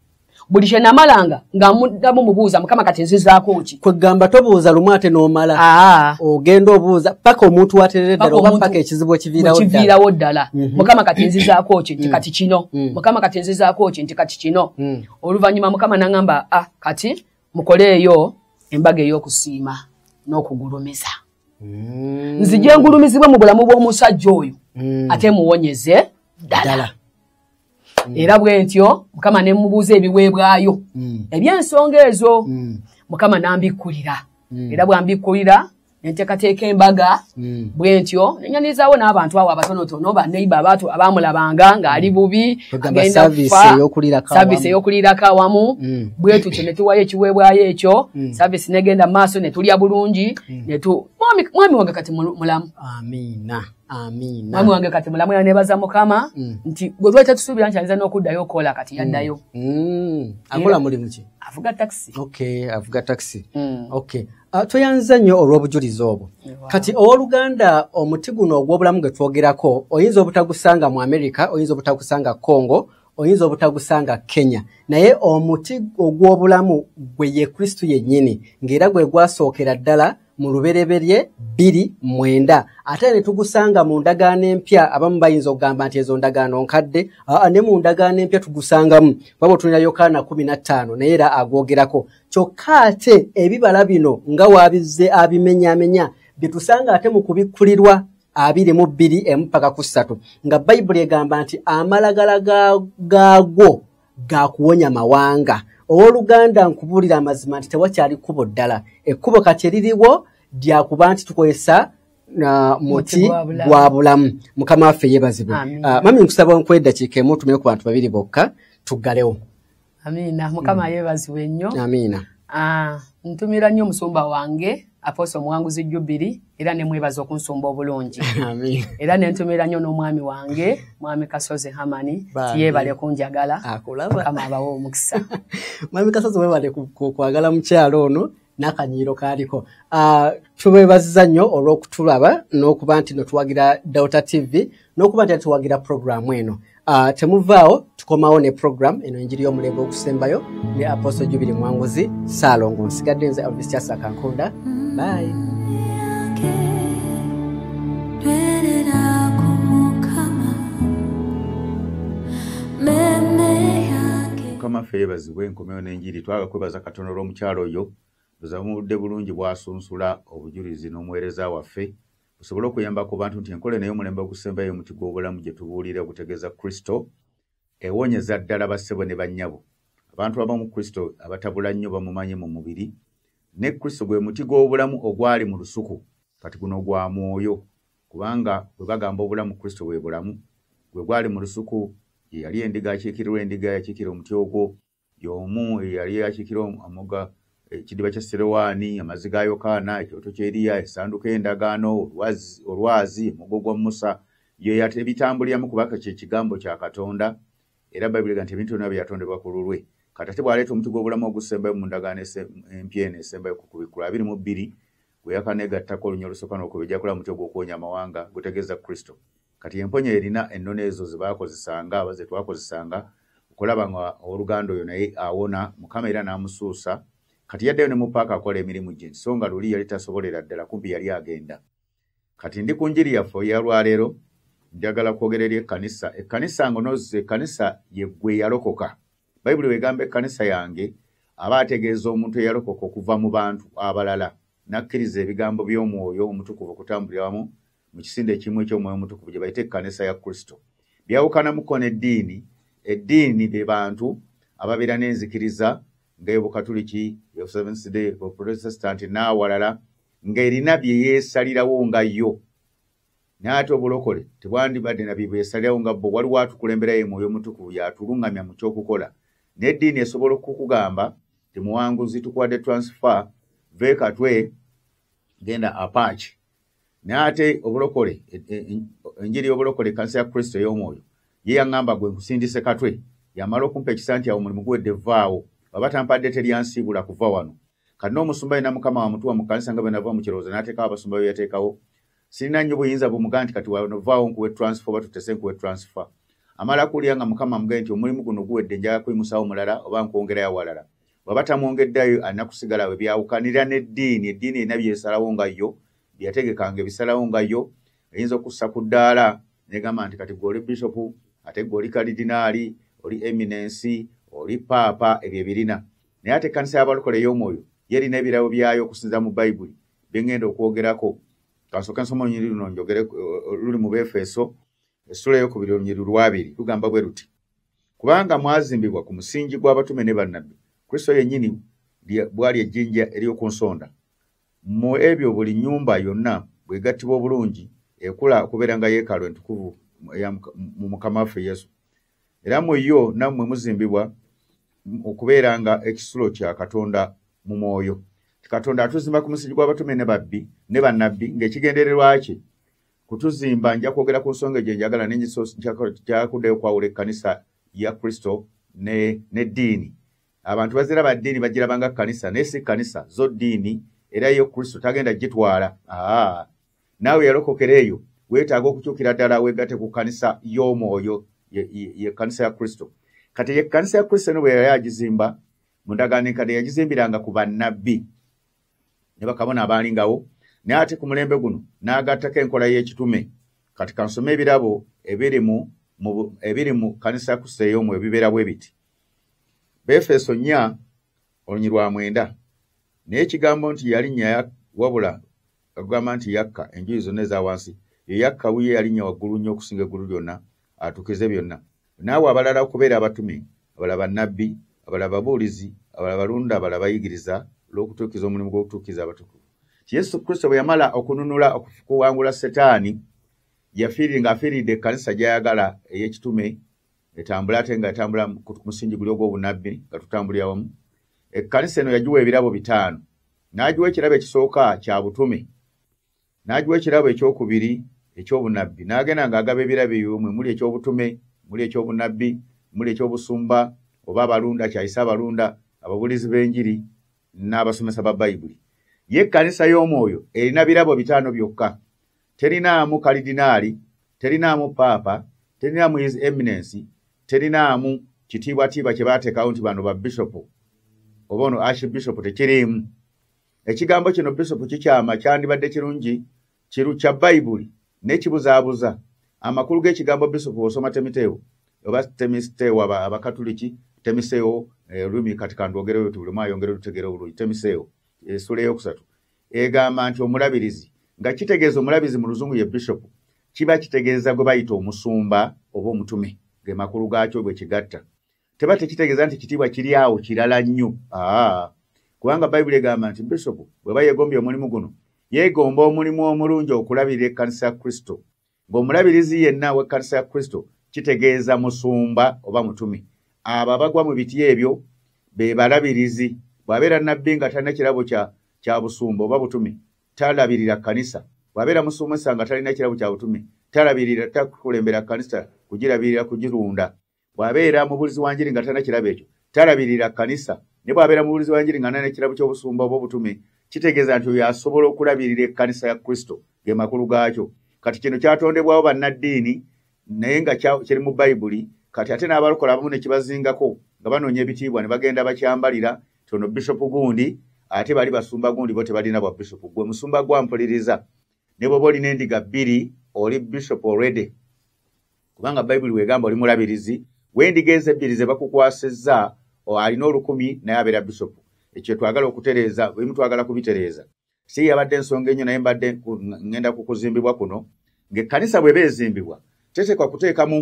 Speaker 3: buli kye namalanga nga muddamu mubuuza mukama kati nzizaako ki kwegamba tobuuza lumu
Speaker 2: ate n'omala ah. ogenda obuuza paka omuntu waterere ddala oba paka ekizibu ekiviirawo ddala
Speaker 3: mhm. mukama kati nzizaako ki nti mm. kati kino mm. mukama kati nzizaako ki nti kati kino mm. oluvannyuma mukama nangamba a ah, kati mukoleeyo embaga ey'okusiima n'okugulumiza nzije ngulumizibwe mu bulamu bw'omusajja oyo ate muwonyeze ddala mm. era bwentyo mukama ne mubuuza ebiweebwayo mm. eby'ensonga ezo mm. mukama n'ambikkulira mm. era bw'ambikkulira enteekateeka embaga hmm. bwentyo nenyanirizawo n'abantu awo abatonotono baneiba abaatu abamulabanga ng'ali hmm. bubi agendasaavisi eyokuliirako awamu hmm. bwetutyo ne tuwayo ekiweebwayo ekyo saavisi negenda mu maaso ne tulya bulungi mwami wange kati mulamu amiina
Speaker 2: amiina mwami
Speaker 3: wange kati mulamu era nebaza mukama mm. nti gwe lwaki atusuubira nti ayinza
Speaker 2: n'okuddayo
Speaker 3: okukola kati yaddayo
Speaker 2: mm.
Speaker 3: mm.
Speaker 2: akola
Speaker 3: mulimu ki avuga takisi okay avuga
Speaker 2: takisi mm. okay uh, tweyanziza nnyo olw'obujulizi obwo wow. kati ow'oluganda omuti guno ogw'obulamu gwe twogerako oyinza obutagusanga mu amerika oyinza obutagusanga congo oyinza obutagusanga kenya naye omuti ogw'obulamu gwe ye kristo yennyini ng'era gwe gwasookera ddala mu lubereberye bbiri mwenda ate ne tugusanga mu ndagaano empya abamu bayinza okugamba nti ezo ndagaano nkadde aa ne mu ndagaano empya tugusangamu baba otunira yokaana kumi na ttaano naye era agwogerako kyokka ate ebibala bino nga waabizze abimenyamenya bye tusanga ate mu kubikkulirwa abiri mu bbiri emu paka ku ssatu nga bayibuli egamba nti amalagala gaagwo ga kuwonya mawanga ow'oluganda nkubuulira amazima nti tewakyali kkubo ddala ekkubo kati eririwo lya kuba nti tukozesa na muti gwa bulamu mukama waffe yebazibwe ah, mami nkusaba nkwedakiika emu tumire ku bantu babiri bokka tuggalewo amiina
Speaker 3: mukama mm. yebazibwe nnyo amiina ah,
Speaker 2: ntumira
Speaker 3: nnyo omusumba wange aposo omuwanguzi jubiri era nemwebaza okunsumba obulungi era
Speaker 2: nentumira nnyo
Speaker 3: n'omwami wange mwami kasozi hamani tiyebale kunjagala mukama abawe
Speaker 2: omukisa
Speaker 3: mwami kasozi
Speaker 2: webale kwagala mukyalo ono n'akanyiiro kaaliko ah, tubebaziza nnyo olw'okutulaba n'okuba nti notuwagira delta tv n'okuba nti atuwagira puroguramu eno uh, temuvaawo tukomawo ne puroguramu eno enjiri y'omulembe okusembayo ne aposto jubiri mwanguzi saalongo nsigadde nze alvis kyasa kankunda bayi
Speaker 1: mukama ffe yebazibwe enkomewo n'enjiri twaga kwebaza katonda olw'omukyalo oyo buzamudde bulungi bwasunsula obujulizi n'omuweereza waffe busobole okuyamba ku bantu nti enkola naye omulembe ogusembayo omuti gw'obulamu gye tubuulira gutegeeza kristo ewonyeza ddala bassebo ne bannyabo abantu abamu kristo abatabula nnyo bamumanyi mu mubiri ne kristo gwe muti gw'obulamu ogwali mu lusuku kati guno gwa mwoyo kubanga bwe bagamba obulamu kristo bwe bulamu gwe gwali mu lusuku ye yali endiga akiikirirwa endiga yakiikira omuti ogwo y'omu eyali akikira amoga ekidiba kya serewaani amazzi ga yokaana ekyoto kyeriya esanduka endagaano olwazi omugo gwa musa yeyat ebitambuliramu kubaka kyekigambo kya katonda era baibulga nti ebintu byona byeyatondebwa ku lulwe katate bwaleeta omuti gw'obulamu ogusembayo mu ndagaano empya eno esembayo ku kubikkulu abiri mu bbiri gweyakannegattako olunya olusooka n'okubejakula muti ogw'okuwonya amawanga gutegeeza kristo kati emponya erina ennono ezo zebakozesanga aba zetwakozesanga okulaba nga oluganda oyo naye awona mukama era n'amusuusa kati yaddeyo ne mupaaka akola emirimu gye nti so nga luli yali tasobolera ddala kumpi yali agenda kati ndi ku njiri yaffe eyalwaleero njagala kwogera eri ekkanisa ekkanisa ngonozi ekkanisa yeggwe yalokoka bayibuli wegamba ekkanisa yange aba ategeeza omuntu eyalokoka okuva mu bantu abalala n'akkiriza ebigambo by'omwoyo omutukuvu okutambulira wamu mu kisinde ekimu eky'omwoyo omutukuvu gye bayita ekkanisa ya kristo byawukanamuko n'eddiini eddiini be bantu ababeera n'enzikiriza ng'eyobukatuliki eyoseventhday oprotestant n'awalala ng'erina bye yeesalirawo nga yo naye ate obulokole tebwandibadde na bibwesalirawo nga bo waliwo atukulemberayo emwoyo omutukuvu yatulungamya mu kyokukola n'eddiini esobola okukugamba temuwanguzi tukuwadde transfer vekatwe genda apaaki naye ate obulokole e, e, e, enjiri y'obulokole ekanisa ya kristo ey'omwoyo ye yaŋŋamba gwe nkusindise katwe yamala okumpa ekisa nti awo mulimu guwedde vvaawo baba tampadde teryansiibula kuva wano kati n'omusumba yena mukama wamutuwa mu kanisa nga bwenava mu kirowoozo n'ateekawo abasumba be yateekawo sirina nnyo buyinza bumuga nti kati wanovaawo nkuwe transfer oba tutese nkuwe transfer amala kuwulira nga mukama mugee nti omulimu guno guwedde njala kuyimusawo mulala oba nkwongerayo awalala waba tamwongeddayo alina kusigala we byawukanira n'eddiini eddiini erina byesalawo nga yo byeyategekanga ebisalawo nga yo eyinza okussa ku ddaala negamba nti kati gwe oli bishopu ate gwe oli kalidinaali oli eminensi oli paapa ebyo ebirina naye ate ekkanisa y'abalokole ey'omwoyo yerina ebirabo byayo okusinza mu bayibuli byengenda okwogerako kansooke nsoma olunyiri luno njogere eh, luli mu befeeso essula eyokubiri olunyiri lwabiri lugamba bwe luti kubanga mwazimbibwa ku musingi gw'abatume ne bannabbi kristo yennyini bwali ejjinja ery'oku nsonda mu ebyo buli nnyumba yonna bwegattibwa obulungi ekula okubeera nga yeekalo entukuvu mu mukama waffe yesu era mu yo nammwe muzimbibwa okubeera nga ekisulo kya katonda mu mwoyo katonda atuzimba ku musingi gw'abatume ne babbi ne bannabbi ng'ekigendererwa kye kutuzimba nja kwogera ku nsonga egyo njagala nenjakuddeyo okwawula ekkanisa ya kristo n'eddiini abantu bazira ba ddiini bagirabanga kkanisa naye si kkanisa zo ddiini era yo kristo tagenda gitwala aa naawe yalokokera eyo weetaaga okukyukira ddala weegate ku kkanisa y'omwoyo ye kkanisa ya kristo kati ye kkanisa ya kristo eno bwe yali agizimba mu ndagaano enkadde yagizimbiranga ku bannabbi ne bakabona abaalingawo naye ate ku mulembe guno n'agattako enkola y'ekitume kati kansome ebirabo ebiri mu ebiri mu kkanisa ya kristo ey'omu ebibeera bwe biti befeso nnya olunyirwa mwenda naye ekigambo nti yalinnya wabula agamba nti yakka enjuyi zonna eza wansi eyakka wuyo eyalinnya waggulu nnyo okusinga eggulu lyonna atukize byonna naawe abalala okubeera abatume abala bannabbi abala babuulizi abala balunda abala bayigiriza olw'okutuukiza omulimu gw'okutuukiza abatukuvu yesu kristo bwe yamala okununula okuwangula setaani yafiirire ng'afiiridde ekkanisa gy'ayagala ey'ekitume etambula ate nga etambula ku musingi guli ogw'obunabbi nga tutambulira wamu ekkanisa eno yagiwa ebirabo bitaano n'agiwa ekirabo ekisooka kya butume n'agiwa ekirabo ekyokubiri eky'obunabbi n'agenda ng'agaba ebirabo ebyo mwe muli eky'obutume muli eky'obunabbi muli eky'obusumba oba abalunda kyayise abalunda ababulizi b'enjiri n'abasomesa ba bayibuli ye ekkanisa y'omwoyo erina birabo bitaano byokka terinaamu kalidinaali terinaamu paapa terinaamu his eminensi terinaamu kitiibwatiibwa kye baateekawo nti bano ba bishopu oba ono ashi bishopu tekiriimu ekigambo kino bishopu kikyama kyandibadde kirungi kiru kya bayibuli n'ekibuzaabuza amakulu g'ekigambo bishopu osoma temiteewo oba temiteewo abakatuliki temiseewo eh, olulimi kati kandwogereyo tubulemu ayongere olutegeera obulungi temiseewo esula eyokusatu egamba nti omulabirizi nga kitegeeza omulabirizi mu luzungu ye bishop kiba kitegeeza gwe bayita omusumba oba omutume ge makulu gaakyo bwe kigatta teba tekitegeeza nti kitiibwa kiri awo kirala nnyo aa kubanga bayibuli egamba nti bishop bweba yegombye omulimu guno yegomba omulimu omulungi okulabirira ekkanisa ya kristo Ng'omulabirizi yenna w'ekkanisa ya Kristo kitegeeza musumba oba mutume. Abo abagwa mu biti ebyo be balabirizi. Bw'abeera nnabbi nga talina kirabo kya busumba oba butume, talabirira kkanisa. Bw'abeera musumesa nga talina kirabo kya butume, talabirira, takulembera kkanisa kugirabirira, kugirunda. bw'abeera mubuulizi wa njiri nga talina kirabo ekyo talabirira kkanisa ne bw'abeera mubuulizi wa njiri nga nalina ekirabo ky'obusumba oba obutume kitegeeza nti oyo asobola okulabirira ekkanisa ya kristo ge makulu gaakyo kati kino kyatondebwawo bannaddiini naye nga kiri mu bayibuli kati ate n'abalokola abamu ne kibazingako nga banoonya ebitiibwa ne bagenda bakyambalira tono bishopu gundi ate bali basumba gundi bo tebalina bwa bishopu gwe musumba gwampuliriza ne bwoba olina endiga bbiri oli bishop already kubanga bayibuli wegamba oli mulabirizi wendiga ezo ebbiri ze bakukwasizza alina olukumi naye abeera bishop ekyo twagala okutereeza ebimu twagala kubitereeza si yabadde ensonga enyo naye mbadde ngenda ku kuzimbibwa kuno ng'ekkanisa bweba ezimbibwa teteekwa kuteekamu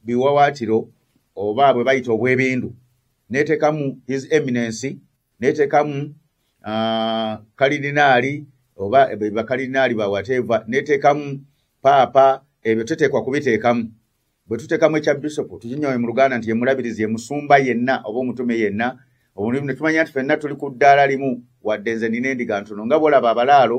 Speaker 1: biwawaatiro oba bwe bayita obwebindu neteekamu his eminency netekamu uh, kalidinaali oba bakalidinaali ba wateeva netekamu paapa ebyo teteekwa kubiteekamu bwe tuteekamu ekya bisopu tukinyoye mu luganda nti yemulabirizi emusumba yenna oba omutume yenna omulimu ne tumanya nti fenna tuli ku ddaala limu wadde nze nina endiga ntono nga bwolaba abalaalo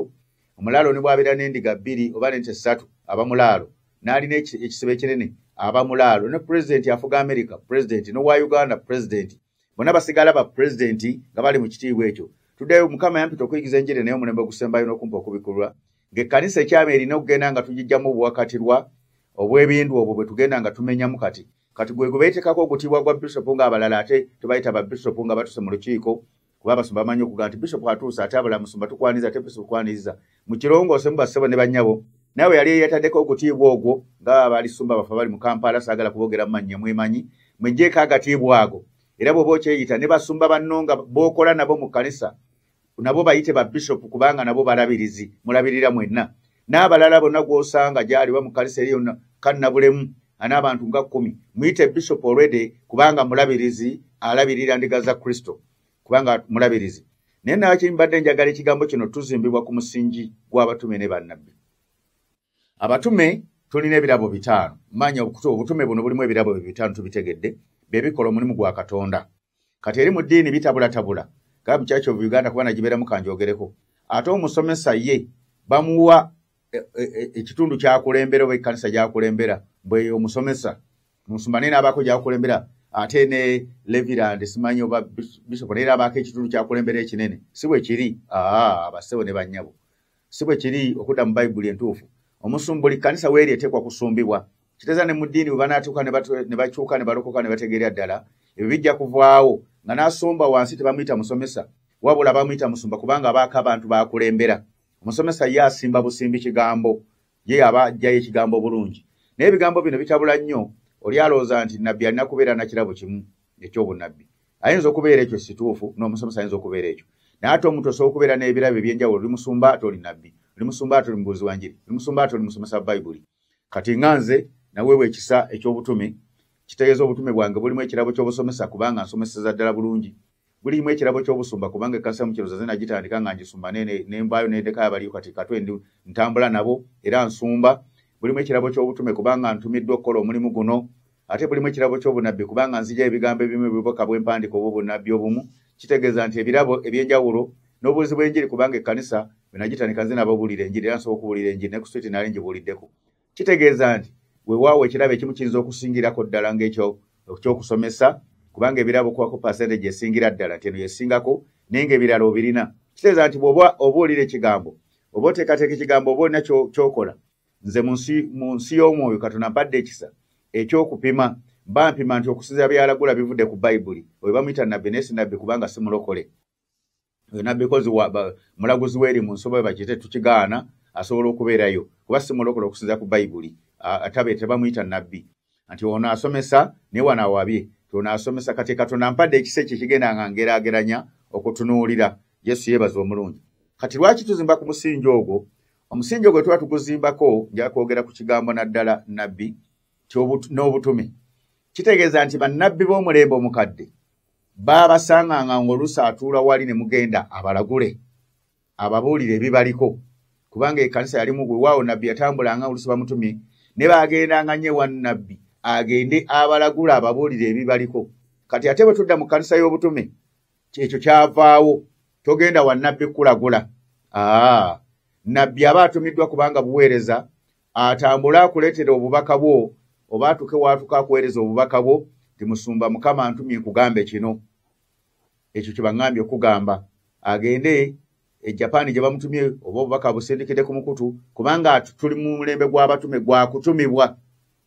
Speaker 1: omulaalo ne bwabeera n'endiga bbiri oba nente ssatu aba mulaalo n'alina ekisibo ekinene aba mulaalo ne pulezidenti afuga amerika pulezidenti n'owa uganda pulezidenti bona basigala ba president nga bali mu kitiibwa ekyo tuddeyo mukama yampita okuyigiza enjiri naye omulembe ogusembayo n'okumpa okubikulwa ng'ekkanisa ekyama erina okugenda nga tugijjamu obuwakatirwa obw'ebindu obwo bwe tugenda nga tumenyamu kati kati gwe gwebeetekako ogutiibwa gwa bisopu ng'abalala ate tebayita ba bisopu nga batuse mu lukiiko kuba abasumba bamanyi okuga nti bisopu atuuse ate abala musumba tukwaniza ate bisopu kwaniriza mukirongosemu bassebo ne bannyabo nawe yali eyataddeko okutiibwa ogwo nga balisumba bafe bali mu kampala saagala kubogera mumannya mwemanyi mwejjeeko agatiibwa ago era bwoba okyeyita ne basumba banno nga bookola nabo mu kkanisa nabo bayite ba bishopu kubanga nabo balabirizi mulabirira mwenna n'abalala bonna gw'osanga gyali ba mu kkanisa eri yonna kannabulemu an'abantu nga kkumi muyite bishopu olwede kubanga mulabirizi alabirira ndiga za kristo kubanga mulabirizi naye nawaki mbadde njagala ekigambo kino tuzimbibwa ku musingi gw'abatume ne bannabbi abatume tulina ebirabo bitaano manya obutume buno bulimu ebirabo bye bitaano tubitegedde bye bikola omulimu gwa katonda kati eri mu ddiini bitabulatabula gaba mukyaki of uganda kuba nagibeeramu kanjogereko ate omusomesa ye bamuwa e, e, e, ekitundu kyakulembera oba ekkanisa gyakulembera bweyo omusomesa omusumba naye n'abaako gyakulembera ate ne levirand simanyi oba bisopo naye n'abaako ekitundu kyakulembera ekinene si bwe kiri aa basebo ne bannyabo si bwe kiri okudda mu bayibuli entuufu omusumba buli kkanisa weeri eteekwa kusumbibwa kiteeza ne mu ddiini bwe banaatuuka ne bakyuka ne balokoka ne bategeera ddala ebyo bijja kuvaawo nga n'asumba wansi tebamuyita musomesa wabula bamuyita musumba kubanga abaako abantu baakulembera omusomesa ye asimba busimbi kigambo ye aba ajjayo ekigambo bulungi naye ebigambo bino bitabula nnyo oli alowooza nti nabbi alina kubeera na kirabo kimu ekyobunabbi ayinza okubeera ekyo situufu n'omusomesa ayinza okubeera ekyo naye ate omuntu osobola okubeera n'ebirabo ebyenjawulo oli musumba ate oli nabbi oli musumba ate oli mubuuzi wa njiri oli musumba ate oli musomesa bayibuli kati nga nze naweebwa ekisa eky'obutume kitegeeza obutume bwange bulimu ekirabo ky'obusomesa kubanga nsomeseza ddala bulungi gulimu ekirabo ky'obusumba kubanga ekkanisa mu kirozaze nagitandika nga ngisumba nembaayo nedekayo abaliyo kati katwe ndi ntambula nabo era nsumba bulimu ekirabo ky'obutume kubanga ntumiddwa okukola omulimu guno ate bulimu ekirabo ky'obunabbi kubanga nzija ebigambo ebimu ebiboka bwempandika oba obunabbi obumu kitegeeza nti ebirabo eby'enjawulo n'obuuzi bw'enjiri kubanga ekkanisa benagitandika nze nababulira enjiri era nsobola okubuulira enjiri ne ku switi nali ngibuuliddeko kitegeeza nti wewaawo ekirabo ekimu kiyinza okusingirako ddala ngaekyo ekyokusomesa kubanga ebirabo okuwako percentage esingira ddala nti eno yesingako naye nga ebirala obirina kitegeeza nti bwoba oba olira ekigambo oba oteekateeka ekigambo oba olina kyokola nze mu nsi y'omwoyo katonda mpadde ekisa ekyokupima mba mpima nti okusinzira byalagula bivudde ku bayibuli oyo bamuyita nabbi naye si nabbi kubanga si mulokole yona because mulaguzi weri mu nsoba we bakite tukigaana asobola okubeerayo kuba simulokole okusinza ku bayibuli atabe tebamuyita nabbi nti ono asomesa naye wano awabye ti ono asomesa kati katonda mpadde ekisa ekyo kigenda nga ngeraageranya okutunuulira yesu yeebaza omulungi kati lwaki tuzimba ku musingi ogwo omusingi ogwo tuba tuguzimbako njala kwogera ku kigambo naddala nabbi n'obutume kitegeeza nti bannabbi b'omulembe omukadde baabasanganga ng'oluusi atuula wali ne mugenda abalagule ababuulire ebibaliko kubanga ekanisa yalimu wewaawo nabbi yatambulanga oluusi bamutumye ne baagendanga nnyo ewa nabbi agende abalagula ababuulire ebibaliko kati ate bwe tudda mu kanisa y'obutume kyekyo kyavaawo togenda wa nabbi kulagula aa nabbi aba atumiddwa kubanga buweereza atambule akuleetere obubaka bwo oba atuke waatuka akuweereza obubaka bwo nti musumba mukama ntumye nkugambe kino ekyo kyebaŋambye okugamba agende e japan gye bamutumye oba obubaka busindikidde ku mukutu kubanga tuli mu mulembe gw'abatume gwakutumibwa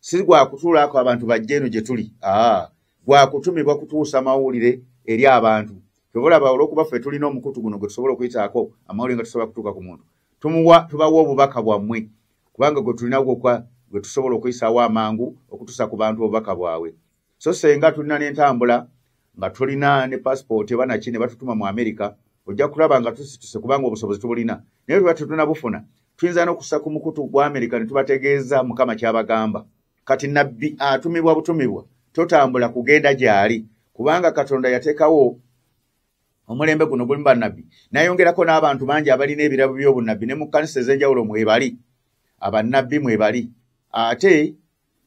Speaker 1: si gwakutuulaako abantu bajja eno gye tuli aa gwakutumibwa kutuusa mawulire eri abantu kyobalaba olwokuba ffe tulina omukutu guno gwe tusobola okuyitaako amawulire nga tusobola kutuuka ku muntu tumuwa tubawa obubaka bwammwe kubanga gwe tulina gwokwa gwe tusobola okuyisaawo amangu okutusa ku bantu obubaka bwabwe so senga tulina n'entambula nga tulina ne passport ebanaki ne batutuma mu america ojja kulaba nga tusituse kubanga obusobozi tubulina naye tuba tetuna bufuna tuyinza n'okusa ku mukutu gwa america ne tubategeeza mukama kyabagamba kati nabbi atumibwa butumibwa totambula kugenda gyali kubanga katonda yateekawo omulembe guno gulimu bannabbi nayongerako n'abantu bangi abalina ebirabo by'obunnabbi ne mu kkanisa ez'enjawulo mwebali abannabbi mwebali ate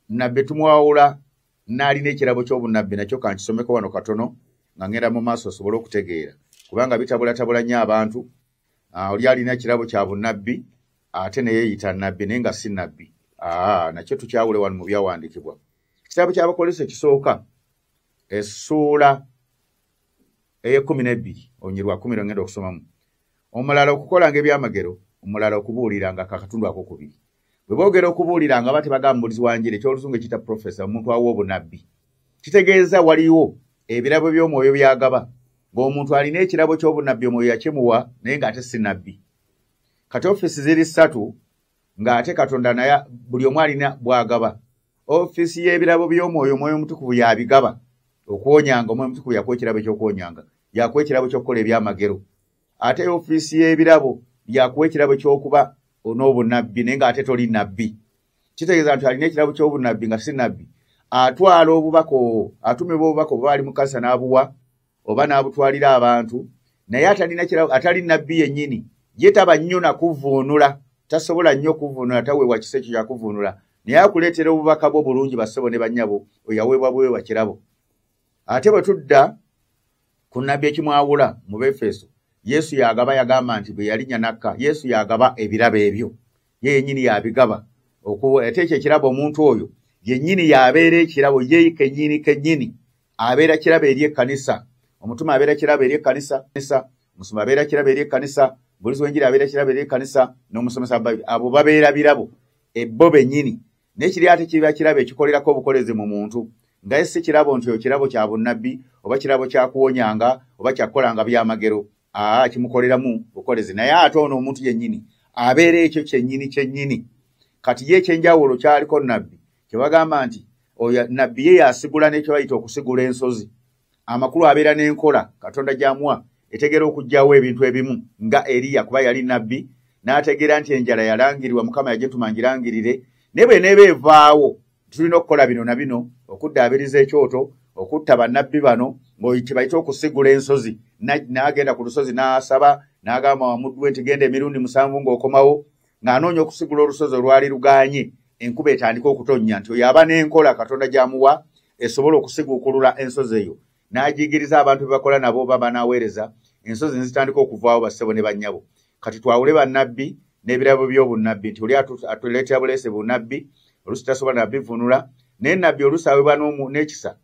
Speaker 1: nabbe tumwawula n'alina ekirabo ky'obunnabbi nakyo kankisomeko wano katono nga ngenda mu maaso osobole okutegeera kubanga bitabulatabula nnyo abantu ah, oli alina ekirabo kya bunnabbi ate neyeyita nabbi naye nga si nabbi ah, nakyo tukyawule wano mu byawandiikibwa ekitabo ky'abakolesa ekisooka essuula eyekumi nebbiri olunyiri lwa kumi lwengenda okusomamu omulala okukolanga ebyamagero omulala okubuuliranga kakatundu ako kubiri bwe boogera okubuuliranga aba tebagamba mubulizi wa njiri ekyoluzungu ekiyita profesa omuntu awa obunabbi kitegeeza waliwo ebirabo by'omwoyo byagaba ng'omuntu alina ekirabo ky'obunabbi omwoyo yakimuwa naye ng'ate si nabbi kati ofiisi ziri ssatu ng'ate katonda naye buli omu alina bwagaba ofiisi y'ebirabo by'omwoyo omwoyo omutukuvu yabigaba okuwonyanga omwoyo omutukuvu yakuwa ekirabo ekyokuwonyanga yakuwa ekirabo ky'okukola ebyamagero ate ofiisi y'ebirabo yakuwa ekirabo ky'okuba onoobunabbi naye ng'ate toli nabbi kitegeeza nti alina ekirabo ky'obunabbi nga si nabbi atwala obubaka obwo atumibwa obubaka obuba ali mu kanisa n'abuwa oba n'abutwalira abantu naye atalina kira atali nabbi yennyini ye taba nnyo nakuvuunula tasobola nnyo kuvuunula taweebwa kisa ekyo kyakuvuunula naye akuleetera obubaka bwo bulungi bassebo ne bannyabo oyaweebwa buweebwa kirabo ate bwe tudda ku nabbi ekimwawula mu befeso yesu yagaba yagamba nti bwe yalinya nakka yesu yagaba ebirabo ebyo ye yennyini yabigaba ate ekyo ekirabo omuntu oyo yennyini yabeera ekirabo ye kennyini kennyini abeera kirabo eri ekkanisa omutume abeera kirabo eri ekkanisa omusumba abeera kirabo eri ekkanisa omubulizi w'enjiri abeera kirabo eri ekkanisa n'omusomesa abo babeera birabo ebbo bennyini naye kiri ate kiba kirabo ekikolerako obukolezi mu muntu nga ye si kirabo nti ekirabo kya bunnabbi oba kirabo kya kuwonyanga oba kyakukolanga byamagero aa kimukoleramu bukolezi naye ate ono omuntu yennyini abeera ekyo kyennyini kyennyini kati ye ekyenjawulo kyaliko nabbi kyebagamba nti oyo nabbi ye yasigula nekyebayita okusigula ensozi amakulu abeera n'enkola katonda gyamuwa etegeera okugyawo ebintu ebimu nga eriya kuba yali nabbi n'ategeera nti enjala yalangirwa mukama yagituma ngirangirire naye bwe neeba evaawo tulina okukola bino na bino okuddaabiriza ekyoto okutta bannabbi bano ngaokibayita okusigula ensozi n'agenda ku lusozi n'asaba n'agamba wamuddu we nti genda emirundi musanvu ng'okomawo ng'anoonya okusigula olusozi olwali luganye enkuba etandika okutonnya nti oyo aba n'enkola katonda gy'amuwa esobola okusiguukulula ensozi eyo n'ajingiriza abantu be bakola nabo oba banaaweereza ensozi ne zitandika okuvaawo bassebo ne bannyabo kati twawule bannabbi n'ebirabo by'obunnabbi nti oli atuleetera buleese bunnabbi oluusi tasobola nabivunula naye nabbi oluusi awebwa n'ekisa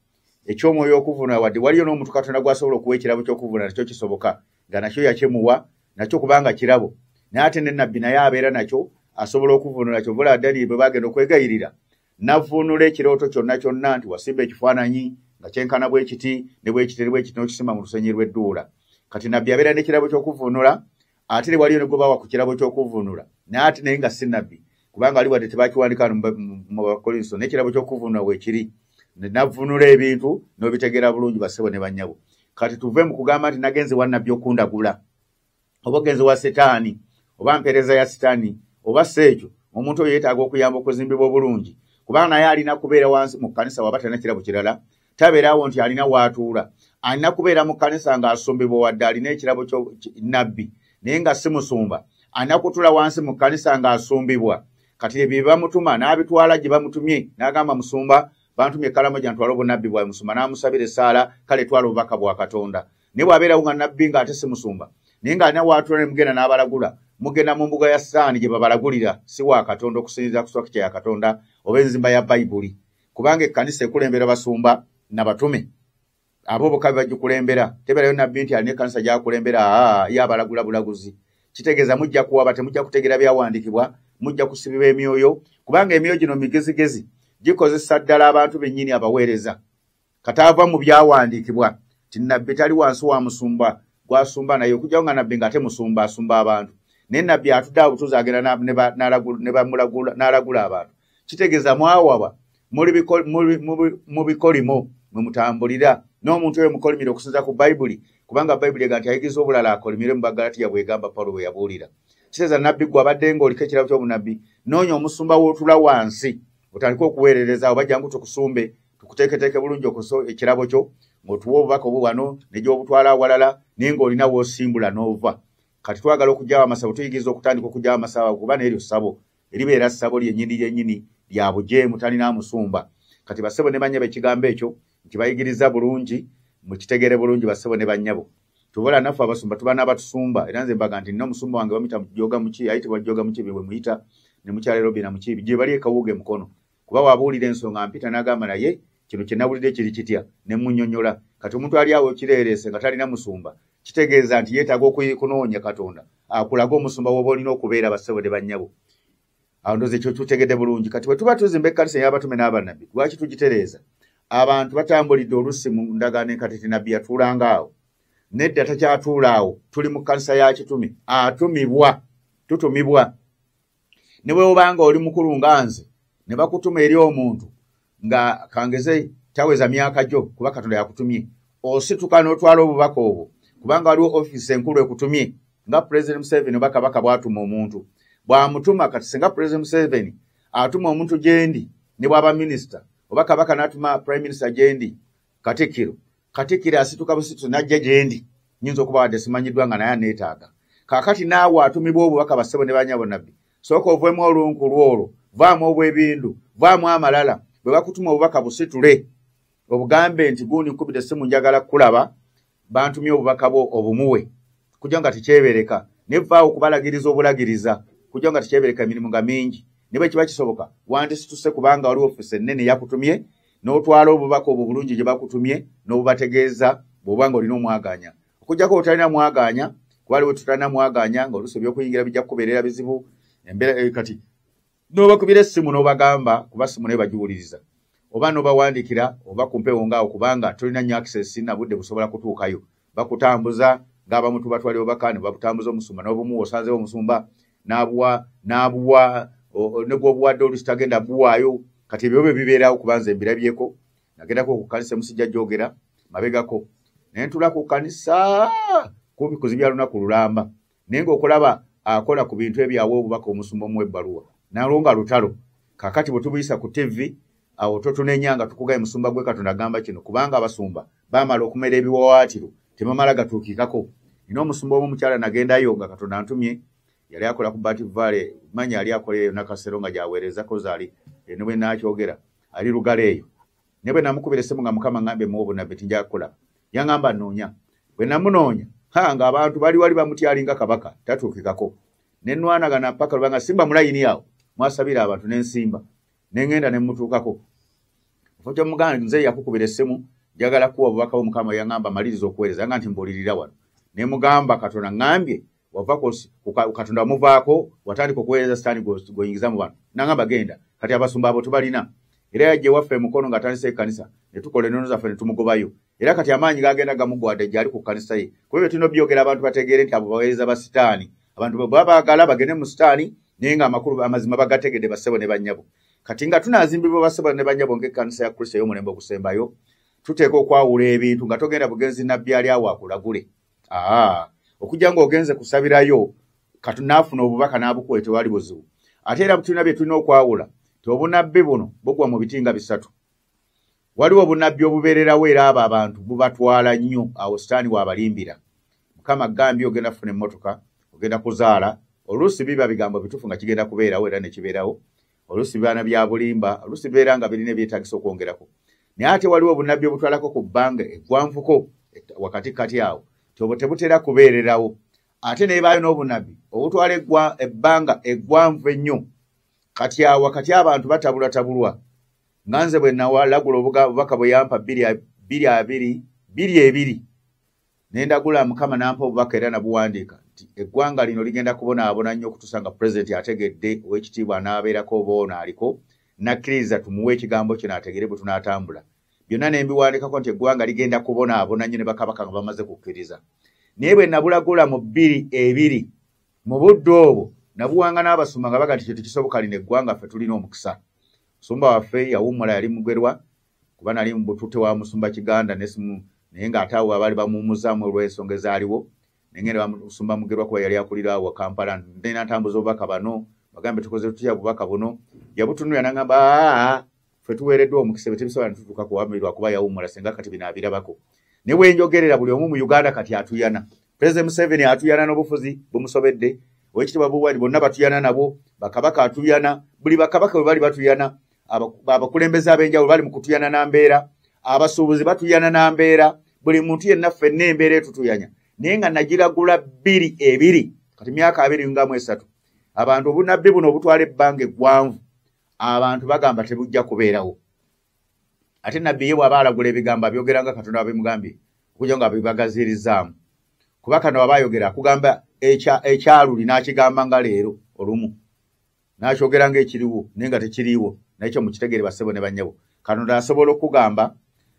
Speaker 1: eky'omwoyo okuvunula wadde waliyo n'omuntu katonda gw'asobola okuwa ekirabo ky'okuvunula nakyo kisoboka nga nakyo yakyemuwa nakyo kubanga kirabo naye ate ne nabbi naye abeera nakyo asobola okuvunula kyovula daniel bwe bagenda okwegayirira navuunula ekirooto kyonna kyonna nti wasimba ekifaananyi nga kyenkana bwe kiti ne bwekiteri bwe kiti n'okisimba mu lusenyi lw'edduula kati nabbi abeera n'ekirabo ky'okuvuunula ate ne waliyo ne gwe bawa ku kirabo ky'okuvuunula naye ate naye nga si nabbi kubanga ali wadde tebakiwandika mu bakolinso n'ekirabo ky'okuvuunula weekiri navuunula ebintu n'obitegeera bulungi basebo ne bannyabo kati tuve mu kugamba nti nagenze wa nabbi okundagula oba ogenze wa sitaani oba mpeereza ya sitaani oba si ekyo omuntu oyo yeetaaga okuyamba okuzimbibwa obulungi kubanga naye alina kubeera wansi mu kkanisa waba talina kirabo kirala tabeerawo nti alina waatuula alina kubeera mu kkanisa ng'asumbibwa wadde alina ekirabo nabbi naye nga si musumba alina kutuula wansi mu kkanisa ng'asumbibwa kati ebyo bye bamutuma n'abitwala gye bamutumye n'agamba musumba bantumye ekkalamo gyantwala obunabbi bwawe musumba n'amusabira essaala kale twala obubaka bwa katonda naye bwabeerawo nga nabbi nga ate si musumba naye nga alina waatula ne mugenda n'abalagula mugenda mu mbuga ya saani gye babalagulira si wa katonda okusinziza ku swakitya ya katonda oba enzimba ya bayibuli kubanga ekkanisa ekulembera basumba na batume abo boka bebagikulembera teberayo nabbi nti alina ekkanisa gyakulembera aa ye abalagula bulaguzi kitegeeza mujja kuwaba temujja kutegeera byawandikibwa mujja kusibiba emyoyo kubanga emyoyo gino migezigezi gikozesa ddala abantu bennyini abaweereza kataava mu byawandiikibwa ti nabbi tali wansi wa musumba gwasumba naye okujjawo nga nabbi nga ate musumba asumba abantu naye nabbi atudde abutuuzi agenda n'alagula abantu kitegeeza mwawaba mu bikolimo mwe mutambulira n'omuntu oyo mukolimire okusinza ku bayibuli kubanga bayibuli ega nti ayigiriza obulala akolimire mu bagalatiya bwegamba pawulo bwe yabuulira kiteeza nabbi gwe abadde nga oliko ekirabo ky'obunabbi noonya omusumba w'otula wansi otandika okuweerereza oba jangu tukusumbe tukuteeketeeke bulungi okusa ekirabo kyo ng'otuwa obubaka obwo wano negyobutwala awalala naye ng'olina wosimbula n'ova kati twagala okugyawo amasabo tuyigiriza okutandika okugyawo amasabo kuba neryo ssabo eribeera ssabo lyenyini lyenyini lya bujeemu talina musumba kati bassebo ne banyabo ekigambo ekyo nti bayigiriza bulungi mukitegere bulungi bassebo ne banyabo tubola naffe abasumba tuba n'abatusumba era nze mbaga nti nina omusumba wange bamuyita joga muki ayitibwa joga muki bye bwe muyita ne mukyalero bina muki gye bali ekawuuga emukono kuba wabuulira ensonga mpita n'agamba naye kino kye nawulidde kiri kitya ne munyonyola kati omuntu ali awo kireereese nga talina musumba kitegeeza nti yeetaaga okukunoonya katonda akulage omusumba woba olina okubeera bassebo ne bannyabo awo ndoza ekyo tutegedde bulungi kati bwe tuba tuzimba ekkanisa ey'abatume n'abannabbi lwaki tugitereeza abantu batambulidde olusi mu ndagaano enkatiti nabbi yatuulanga awo nedda takyatuula awo tuli mu kkanisa ya kitume atumibwa tutumibwa ne bwe obanga oli mukulu nga nze ne bakutuma eri omuntu nga kangeze taweza myaka gyo kuba katonda yakutumye osituka n'otwala obubaka obwo kubanga waliwo ofiisi enkulu ekutumye nga pulezidenti museveni oba kabaka bwatuma omuntu bwamutuma kati singa pulezidenti museveni atuma omuntu gyendi ne bwaba minisita oba kabaka n'atuma prime minisita gyendi katikiro katikiro asituka busitu najja gyendi nyinza okuba wadde simanyiddwa nga naye aneetaaga kakati naawe atumibwa obubaka bassebo ne banyabo nabbi sooka ovuemu olunku lwolwo vaamu obwebindu vaamu amalala bwe bakutuma obubaka busitule obugambe nti gundi nkubidde simu njagala kukulaba bantumye obubaka bwo obumuwe kujja nga tekyebereka naye vaawo okubalagiriza obulagiriza kujja nga tekyebereka emirimu nga mingi ne bwe kiba kisoboka wandisituse kubanga waliwo ofisi ennene yakutumye n'otwala obubaka obwo bulungi gye bakutumye n'obubategeeza bw'oba nga olina omwaganya okujjako otalina mwaganya kuba aliwo tutalina mwaganya nga oluusi ebyokuyingira bijja kukubeerera bizibu embeera eh, kati n'obakubira essimu n'obagamba kuba ssimu naye bagiwuliriza oba n'obawandikira oba ku mpewo ngaawo kubanga tolina nyo access na budde busobola kutuukayo bakutambuza ng'abamu tubatwali obubaka ne babutambuza omusumba n'obumu osanzewo omusumba n'abuwa n'abuwa negwobuwadde olusi tagenda buwaayo kati ebyo bye bibeerawo kubanza embirabyeko nagendako okukanisa emusijja gyogera mabegako naye ntulako kukanisa kumpi kuzibya lunaku lulamba naye ngaokulaba akola ku bintu ebyawa obubaka omusumba omuwa ebbaluwa nalwo nga lutalo kakati bwetubuyisa ku tivi awo totunenya nga tukugaye musumba gwe katonda agamba kino kubanga abasumba bamala okumera ebiwawaatiro tebamala gatuukikako nina omusumba omu omukyala nagendayo nga katonda antumye yali akola ku bat vale manya yali akola eyo nakasero nga gyaweerezako zaali enobwenakyogera ali lugala eyo ne bwe namukubira essimu nga mukama ngambe mu obunabbi ti njaga kukulaba yangamba nnoonya bwe namunoonya ha nga abantu bali wali bamutyalinga kabaka tatuukikako ne nwanagana mpaka lubanga simba mulayini awo mwasabira abantu ne nsimba ne ŋŋenda ne mmutuukako kifo kyomuganda nze yakukubira essimu njagala kuwa obubaka bwo mukama yangamba maliriza okuweereza yanga nti mbuulirira wano ne mugamba katonda ŋambye wava katonda wamuvaako watandika okuweereza sitaani gwoyingiza mu bantu nangamba genda kati abasumba abo tubalina era yajja ewaffe emukono nga atandisa ekkanisa ne tukola enono zaffe ne tumugobayo era kati amaanyi gagenda gamugwade gyali ku kkanisa ye kuba ebyo tulina obyogera abantu bategeere nti abo baweereza ba sitaani abantu bwe baba baagala bagende mu sitaani naye nga amakulu amazima bagategedde bassebo ne bannyabo kati nga tunaazimbibwa bassebo ne bannyabo ng'ekkanisa ya kristo ey'omulembe ogusembayo tuteeka okwawula ebintu nga togenda bugenzi nabbi ali awo akulagule aa okujja ng'ogenze kusabirayo kati naafuna obubaka n'abukuwe tewali buzibu ate era butulina bye tulina okwawula ti obunabbi buno bugwa mu biti nga bisatu waliwo obunabbi obubeererawo era abo abantu bubatwala nnyo awo sitaani waabalimbira mukama gambye ogenda kufuna emmotoka ogenda kuzaala oluusi biba bigambo bituufu nga kigenda kubeerawo era ne kibeerawo oluusi bibaana bya bulimba oluusi bibeera nga birina ebyetagisa okwongerako naye ate waliwo obunabbi obutwalako ku bbanga eggwanvuko wakati kati awo tyobo tebutera kubeererawo ate nebaayo n'obunabbi obutwala ebbanga eggwanvu ennyo kati awo wakati abantu batabulatabulwa nga nze bwe nawalagula obubaka bwe yampa biri abiri biri ebiri nendagula mukama nampa obubaka era nabuwandiika nti eggwanga lino ligenda kubonaabona nnyo okutuusa nga pulezidenti ategedde owekitiibwa anaabeerako oba ono aliko nakkiriza tumuwe ekigambo kino ategere bwe tunaatambula byonna ne mbiwandikako nti eggwanga ligenda kubonaabona nnyo ne bakabaka nga bamaze kukkiriza naye bwe nabulagula mu bbiri ebiri mu budde obwo nabuwanga n'abasumba nga baga nti kyo tekisoboka lino eggwanga ffe tulina omukisa musumba waffe yawummula yali mugerwa kuba nali mubutute wa musumba kiganda nesimu naye nga ate awo abaali bamuwumuzamu olw'ensonga ezaaliwo nengenda bamusumba mugerwa kuba yali akulira awo kampala nena ntambuza obubaka bano bagambe tukoze tutya bubaka buno yabutunula nangamba fe tuweereddwa omukisa be tebisobola nitutuuka kuwamirwa kuba yawumula senga kati bino abirabako ne bwenjogerera buli omu mu uganda kati atuyana president museveni atuyana n'obufuzi bumusobedde owekitibwa buwali bonna batuyana nabo bakabaka atuyana buli bakabaka bwe bali batuyana abakulembeze ab'enjawulo bali mu kutuyana na mbeera abasuubuzi batuyana na mbeera buli muntu yenna ffenna embeera etutuyanya naye nga nagiragula bbiri ebiri kati myaka abiri ngamu esatu abantu obunabbi buno obutwala ebbanga eggwanvu abantu bagamba tebujja kubeerawo ate nabbi ye bwaba alagula ebigambo abyogera nga katonda wabimugambye okuja nga bibagazirizaamu kuba kano waba ayogera akugamba ekyaluli n'akigamba nga leero olumu nakyogera nga ekiriwo naye nga tekiriiwo naye kyo mukitegere basebo ne banyabo katonda asobola okugamba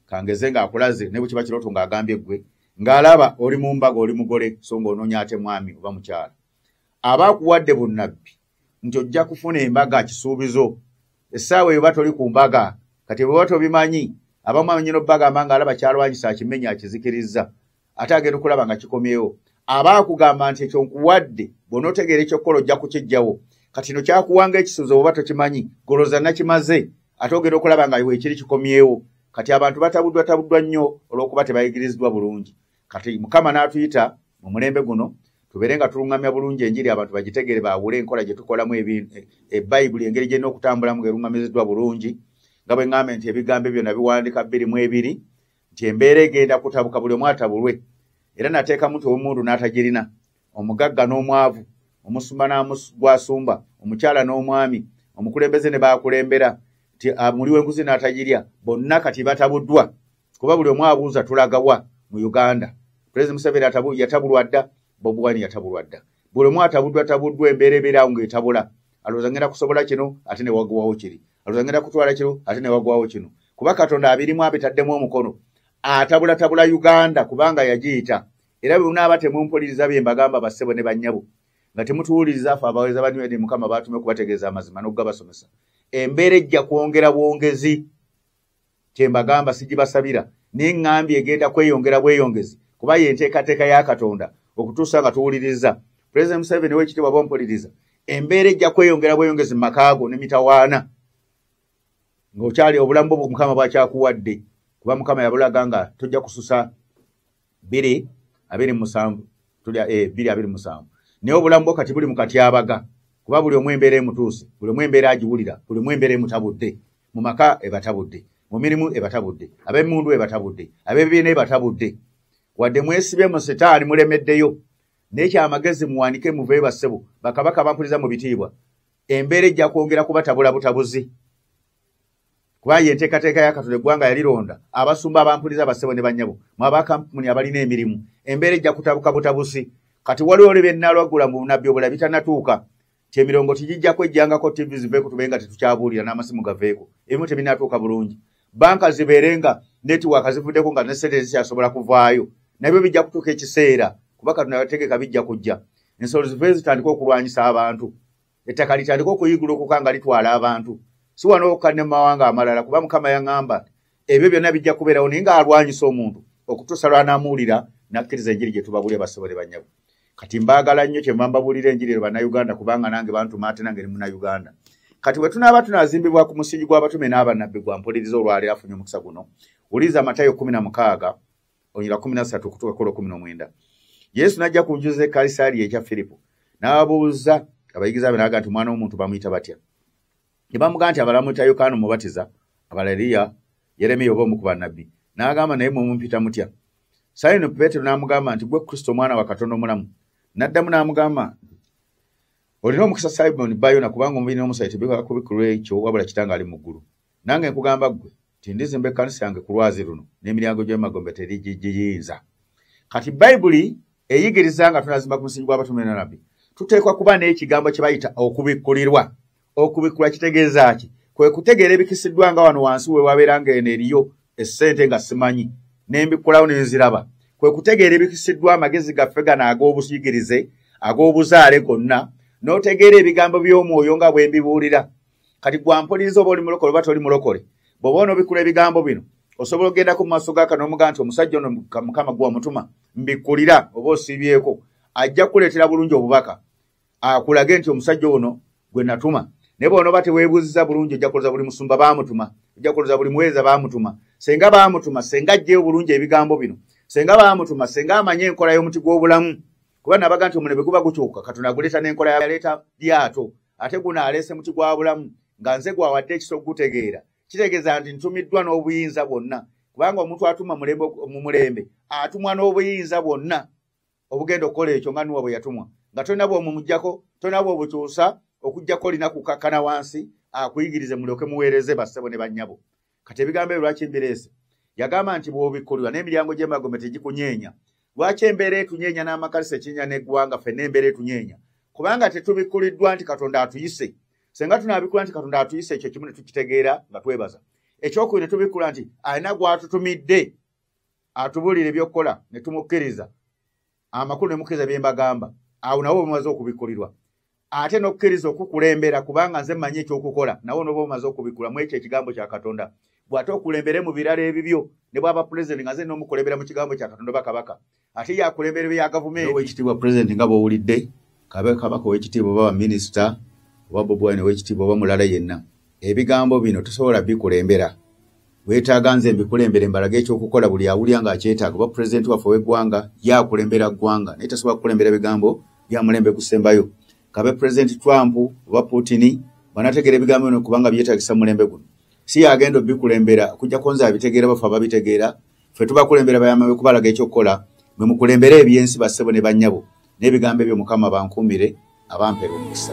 Speaker 1: kangeze ngaakulaze ne bwekiba kirooto ng'agambye ggwe ng'alaba oli mu mbaga oli mugole so ng'onoonya ate mwami oba mukyala aba akuwadde bunnabbi nti ojja kufuna embaga kisuubizo essaawa eyo ba toli ku mbaga kati bweba tobimanyi abamu amanyino bagamba ng'alaba kyalwanyisa akimenya akizikirizza ate agenda okulaba nga kikomyewo aba akugamba nti ekyo nkuwadde bona otegeera ekyokukola ojja kukijjawo kati no kyakuwanga ekisuuzo oba tokimanyi goloza nakimaze ate ogenda okulaba nga wekiri kikomyewo kati abantu batabuddwa tabuddwa nnyo olwokuba tebayigiriziddwa bulungi kati mukama n'atuyita mu mulembe guno tubeere nga tuluŋŋamya bulungi enjiri abantu bagitegeere baawule enkola gye tukolamu ebayibuli e, e engeri gyerina okutambulamu ngaeruŋŋamiziddwa bulungi nga bwe ŋŋambe nti ebigambo ebyo nabiwandika bbiri mu ebiri nti embeera egenda kutabuka buli omu atabulwe era nateekamu nti omundu n'atagirina omugagga n'omwavu omusumba n'gwasumba omukyala n'omwami omukulembeze ne baakulembera nti muli w'enguzi n'atagirya bonna kati batabuddwa kuba buli omu abuuza tulagawa mu uganda pulezidenti museveni yatabulwa dda bobi wine yatabulwa dda buli omu atabuddwa tabuddwa embeera ebeeraawo ng'etabula alowooza ngenda kusobola kino ate ne waguwawo kiri aluzangenda kutwala kiro ate newagwawo kino kuba katonda abirimu abitaddemu omukono atabulatabula uganda kubanga yagiyita era bwebunaaba temumpuliriza bye mbagamba bassebo ne bannyabo nga temutuwuliriza afe abaweza banywede mukama baatume okubategeeza amazima n'okugabasomesa embeera ejja kwongera bwongezi kyembagamba sigibasabira naye ŋŋambye egenda kweyongera bweyongezi kuba ye enteekateeka ya katonda okutuusa nga tuwuliriza pulezidenti museveni wekitibwa bompuliriza embeera ejja kweyongera bweyongezi mu makaago ne mitawaana ng'okyali obulamu bwo mukama bwakyakuwadde kuba mukama yabulaga nga tojja kususa biri abiri musanvu tuli eh, biri abiri musanvu naye obulamu bwo kati buli mu katyabaga kuba buli omu embeera emutuuse buli omu embeera agiwulira buli omu embeera emutabudde mu maka ebatabudde mu mirimu ebatabudde ab'emundu ebatabudde ab'ebibiina ebatabudde wadde mwesibye mu sitaani mulemeddeyo naye kyamagezi muwandike muve bassebo bakabaka bampuliza mu bitiibwa embeera ejja kwongera kubatabula butabuzi kubanga enteekateeka ya katonda eggwanga yalironda abasumba abampuliza abassebo ne bannyabo mu abakampuni abalina emirimu embeera ejja kutabuka butabusi kati waliwo oli byennalwagula mu bunabbi obula bitanatuuka ti emirongo tigijjako ejjangako tivi zive ku tube nga tetukyabuulira n'amasimu gaveeko ebimu tebinatuuka bulungi banka zibeere nga netiwaaka zivuddeko nga nesente zikyasobola kuvaayo nabyo bijja kutuuka ekiseera kuba katonda yategeka bijja kujja ensolo zive zitandika okulwanyisa abantu ettaka litandika okuyigulukuka nga litwala abantu si wano okka ne mumawanga amalala kuba mukama yaŋamba ebyo byonna bijja kubeerawo naye ng'alwanyisa omuntu okutuusa lwanamuwulira nakkiriza enjiri gye tubabulire basobole banyabo kati mbaagala nnyo kye mbambabuulira enjiri ero bannayuganda kubanga nange bantuma ate nange ne munayuganda kati bwe tunaaba tunazimbibwa ku musingi gw'abatume n'abanabbi gwa mpuliriza olwaleero afunye omukisa guno wuliriza matayo kumi na mukaaga onyira kumi nasatu okutuuka kola kumi nomwenda yesu najja ku njuza ekalisaali ekya firipo n'abuuza abayigiza be naga nti omwana w'omuntu bamuyita batya ne bamuga nti abala muyita yokaana omubatiza abala eriya yeremiya oba omu ku bannabbi n'agamba naye mumumpita mutya sayino peetero n'amugamba nti gwe kristo omwana wa katonda omulamu n'addamu n'amugamba olina omukisa simoni bayona kubanga omubiri n'omusaayi tebikakubikulu ekyo wabula kitanga ali mu ggulu nange nkugamba ggwe nti ndizimba ekkanisa yange ku lwazi luno n'emiryango gy'emagombe terigigiyinza kati bayibuli eyigiriza nga tunazimba ku musingi gw'abatume na nabbi tuteekwa kuba n'ekigambo kye bayita okubikkulirwa okubikkulwa kitegeeza ki kwe kutegeera ebikisiddwa nga wano wansi we wabeera nga eno eriyo essente nga simanyi n'embikkulawo ne nziraba kwe kutegeera ebikisiddwa amagezi gaffe gano ag'obuyigirize ag'obuzaale gonna n'otegeera ebigambo by'omwoyo nga bwe mbibuulira kati gwampuliriza oba oli mulokole oba toli mulokole bwoba onobikula ebigambo bino osobola okugendako mu maaso ga kanomuga nti omusajja ono mukama gwa mutuma mbikulira oba osiibyeko ajja kukuleetera bulungi obubaka akulage nti omusajja ono gwe natuma naye bwonoba teweebuziza bulungi ojja kuluza buli musumba baamutuma ojja kuluza buli muweereza baamutuma senga baamutuma senga ajjeyo bulungi ebigambo bino senga baamutuma senga amanye enkola y'omuti gw'obulamu kuba nabaga nti omulembe guba gukyuka katonda aguleeta n'enkola yaleeta lyato ate guno aleese muti gwa bulamu nga nze gwawadde ekiso okugutegeera kitegeeza nti ntumiddwa n'obuyinza bwonna kubanga omuntu atuma mu mulembe atumwa n'obuyinza bwonna obugenda okukola ekyo nga nuwa bwe yatumwa nga tolina bwomumugjako tolina bwobukyusa okugjako olina kukakkana wansi akuyigirize mulyoke muweereze bassebo ne bannyabo kati ebigambo ebyo lwaki mbireese yagamba nti bwobikkulirwa n'emiryango gy'emagombe tegikunyeenya lwaki embeera etunyeenya n'amakalisa ekinya n'eggwanga fenna embeera etunyeenya kubanga tetubikkuliddwa nti katonda atuyise senga tunabikkula nti katonda atuyise ekyo kimu ne tukitegeera nga twebaza ekyokubiri ne tubikkula nti alina gw'atutumidde atubulire ebyokukola ne tumukkiriza amakulu ne mukkiriza bye mbagamba awo nawe omumaze okubikkulirwa ate n'okukkiriza okukulembera kubanga nze mmanyi ekyokukola nawe noba omaze okubikkula mu ekyo ekigambo kya katonda bw'ate okulembere mu birala ebibyo ne bwaba pulezidenti nga nze n'omukulembera mu kigambo kya katonda bakabaka ate yakulembera ebya gavumenti owekitiibwa pulezidenti nga bw'owulidde kabe kabaka owekitiibwa oba baminisita oba bobuwaine owekitiibwa oba mulala yenna ebigambo bino tosobola bikulembera wetaaga nze mbikulembere mbalaga ekyokukola buli awulya nga akyetaaga oba pulezidenti waffe ow'eggwanga yakulembera ggwanga naye tasobola kukulembera bigambo byamulembe kusembayo kabe pulezidenti trump oba putini banategeera ebigambo bino kubanga byetagisa mulembe guno si yagenda obikulembera okujjako nze abitegeera bafe ababitegeera ffe tubakulembera bayama be kubalaga ekyokukola mwe mukulembere ebyensi bassebo ne bannyabo n'ebigambo ebyo mukama bankuumire
Speaker 4: abampera
Speaker 1: omukisa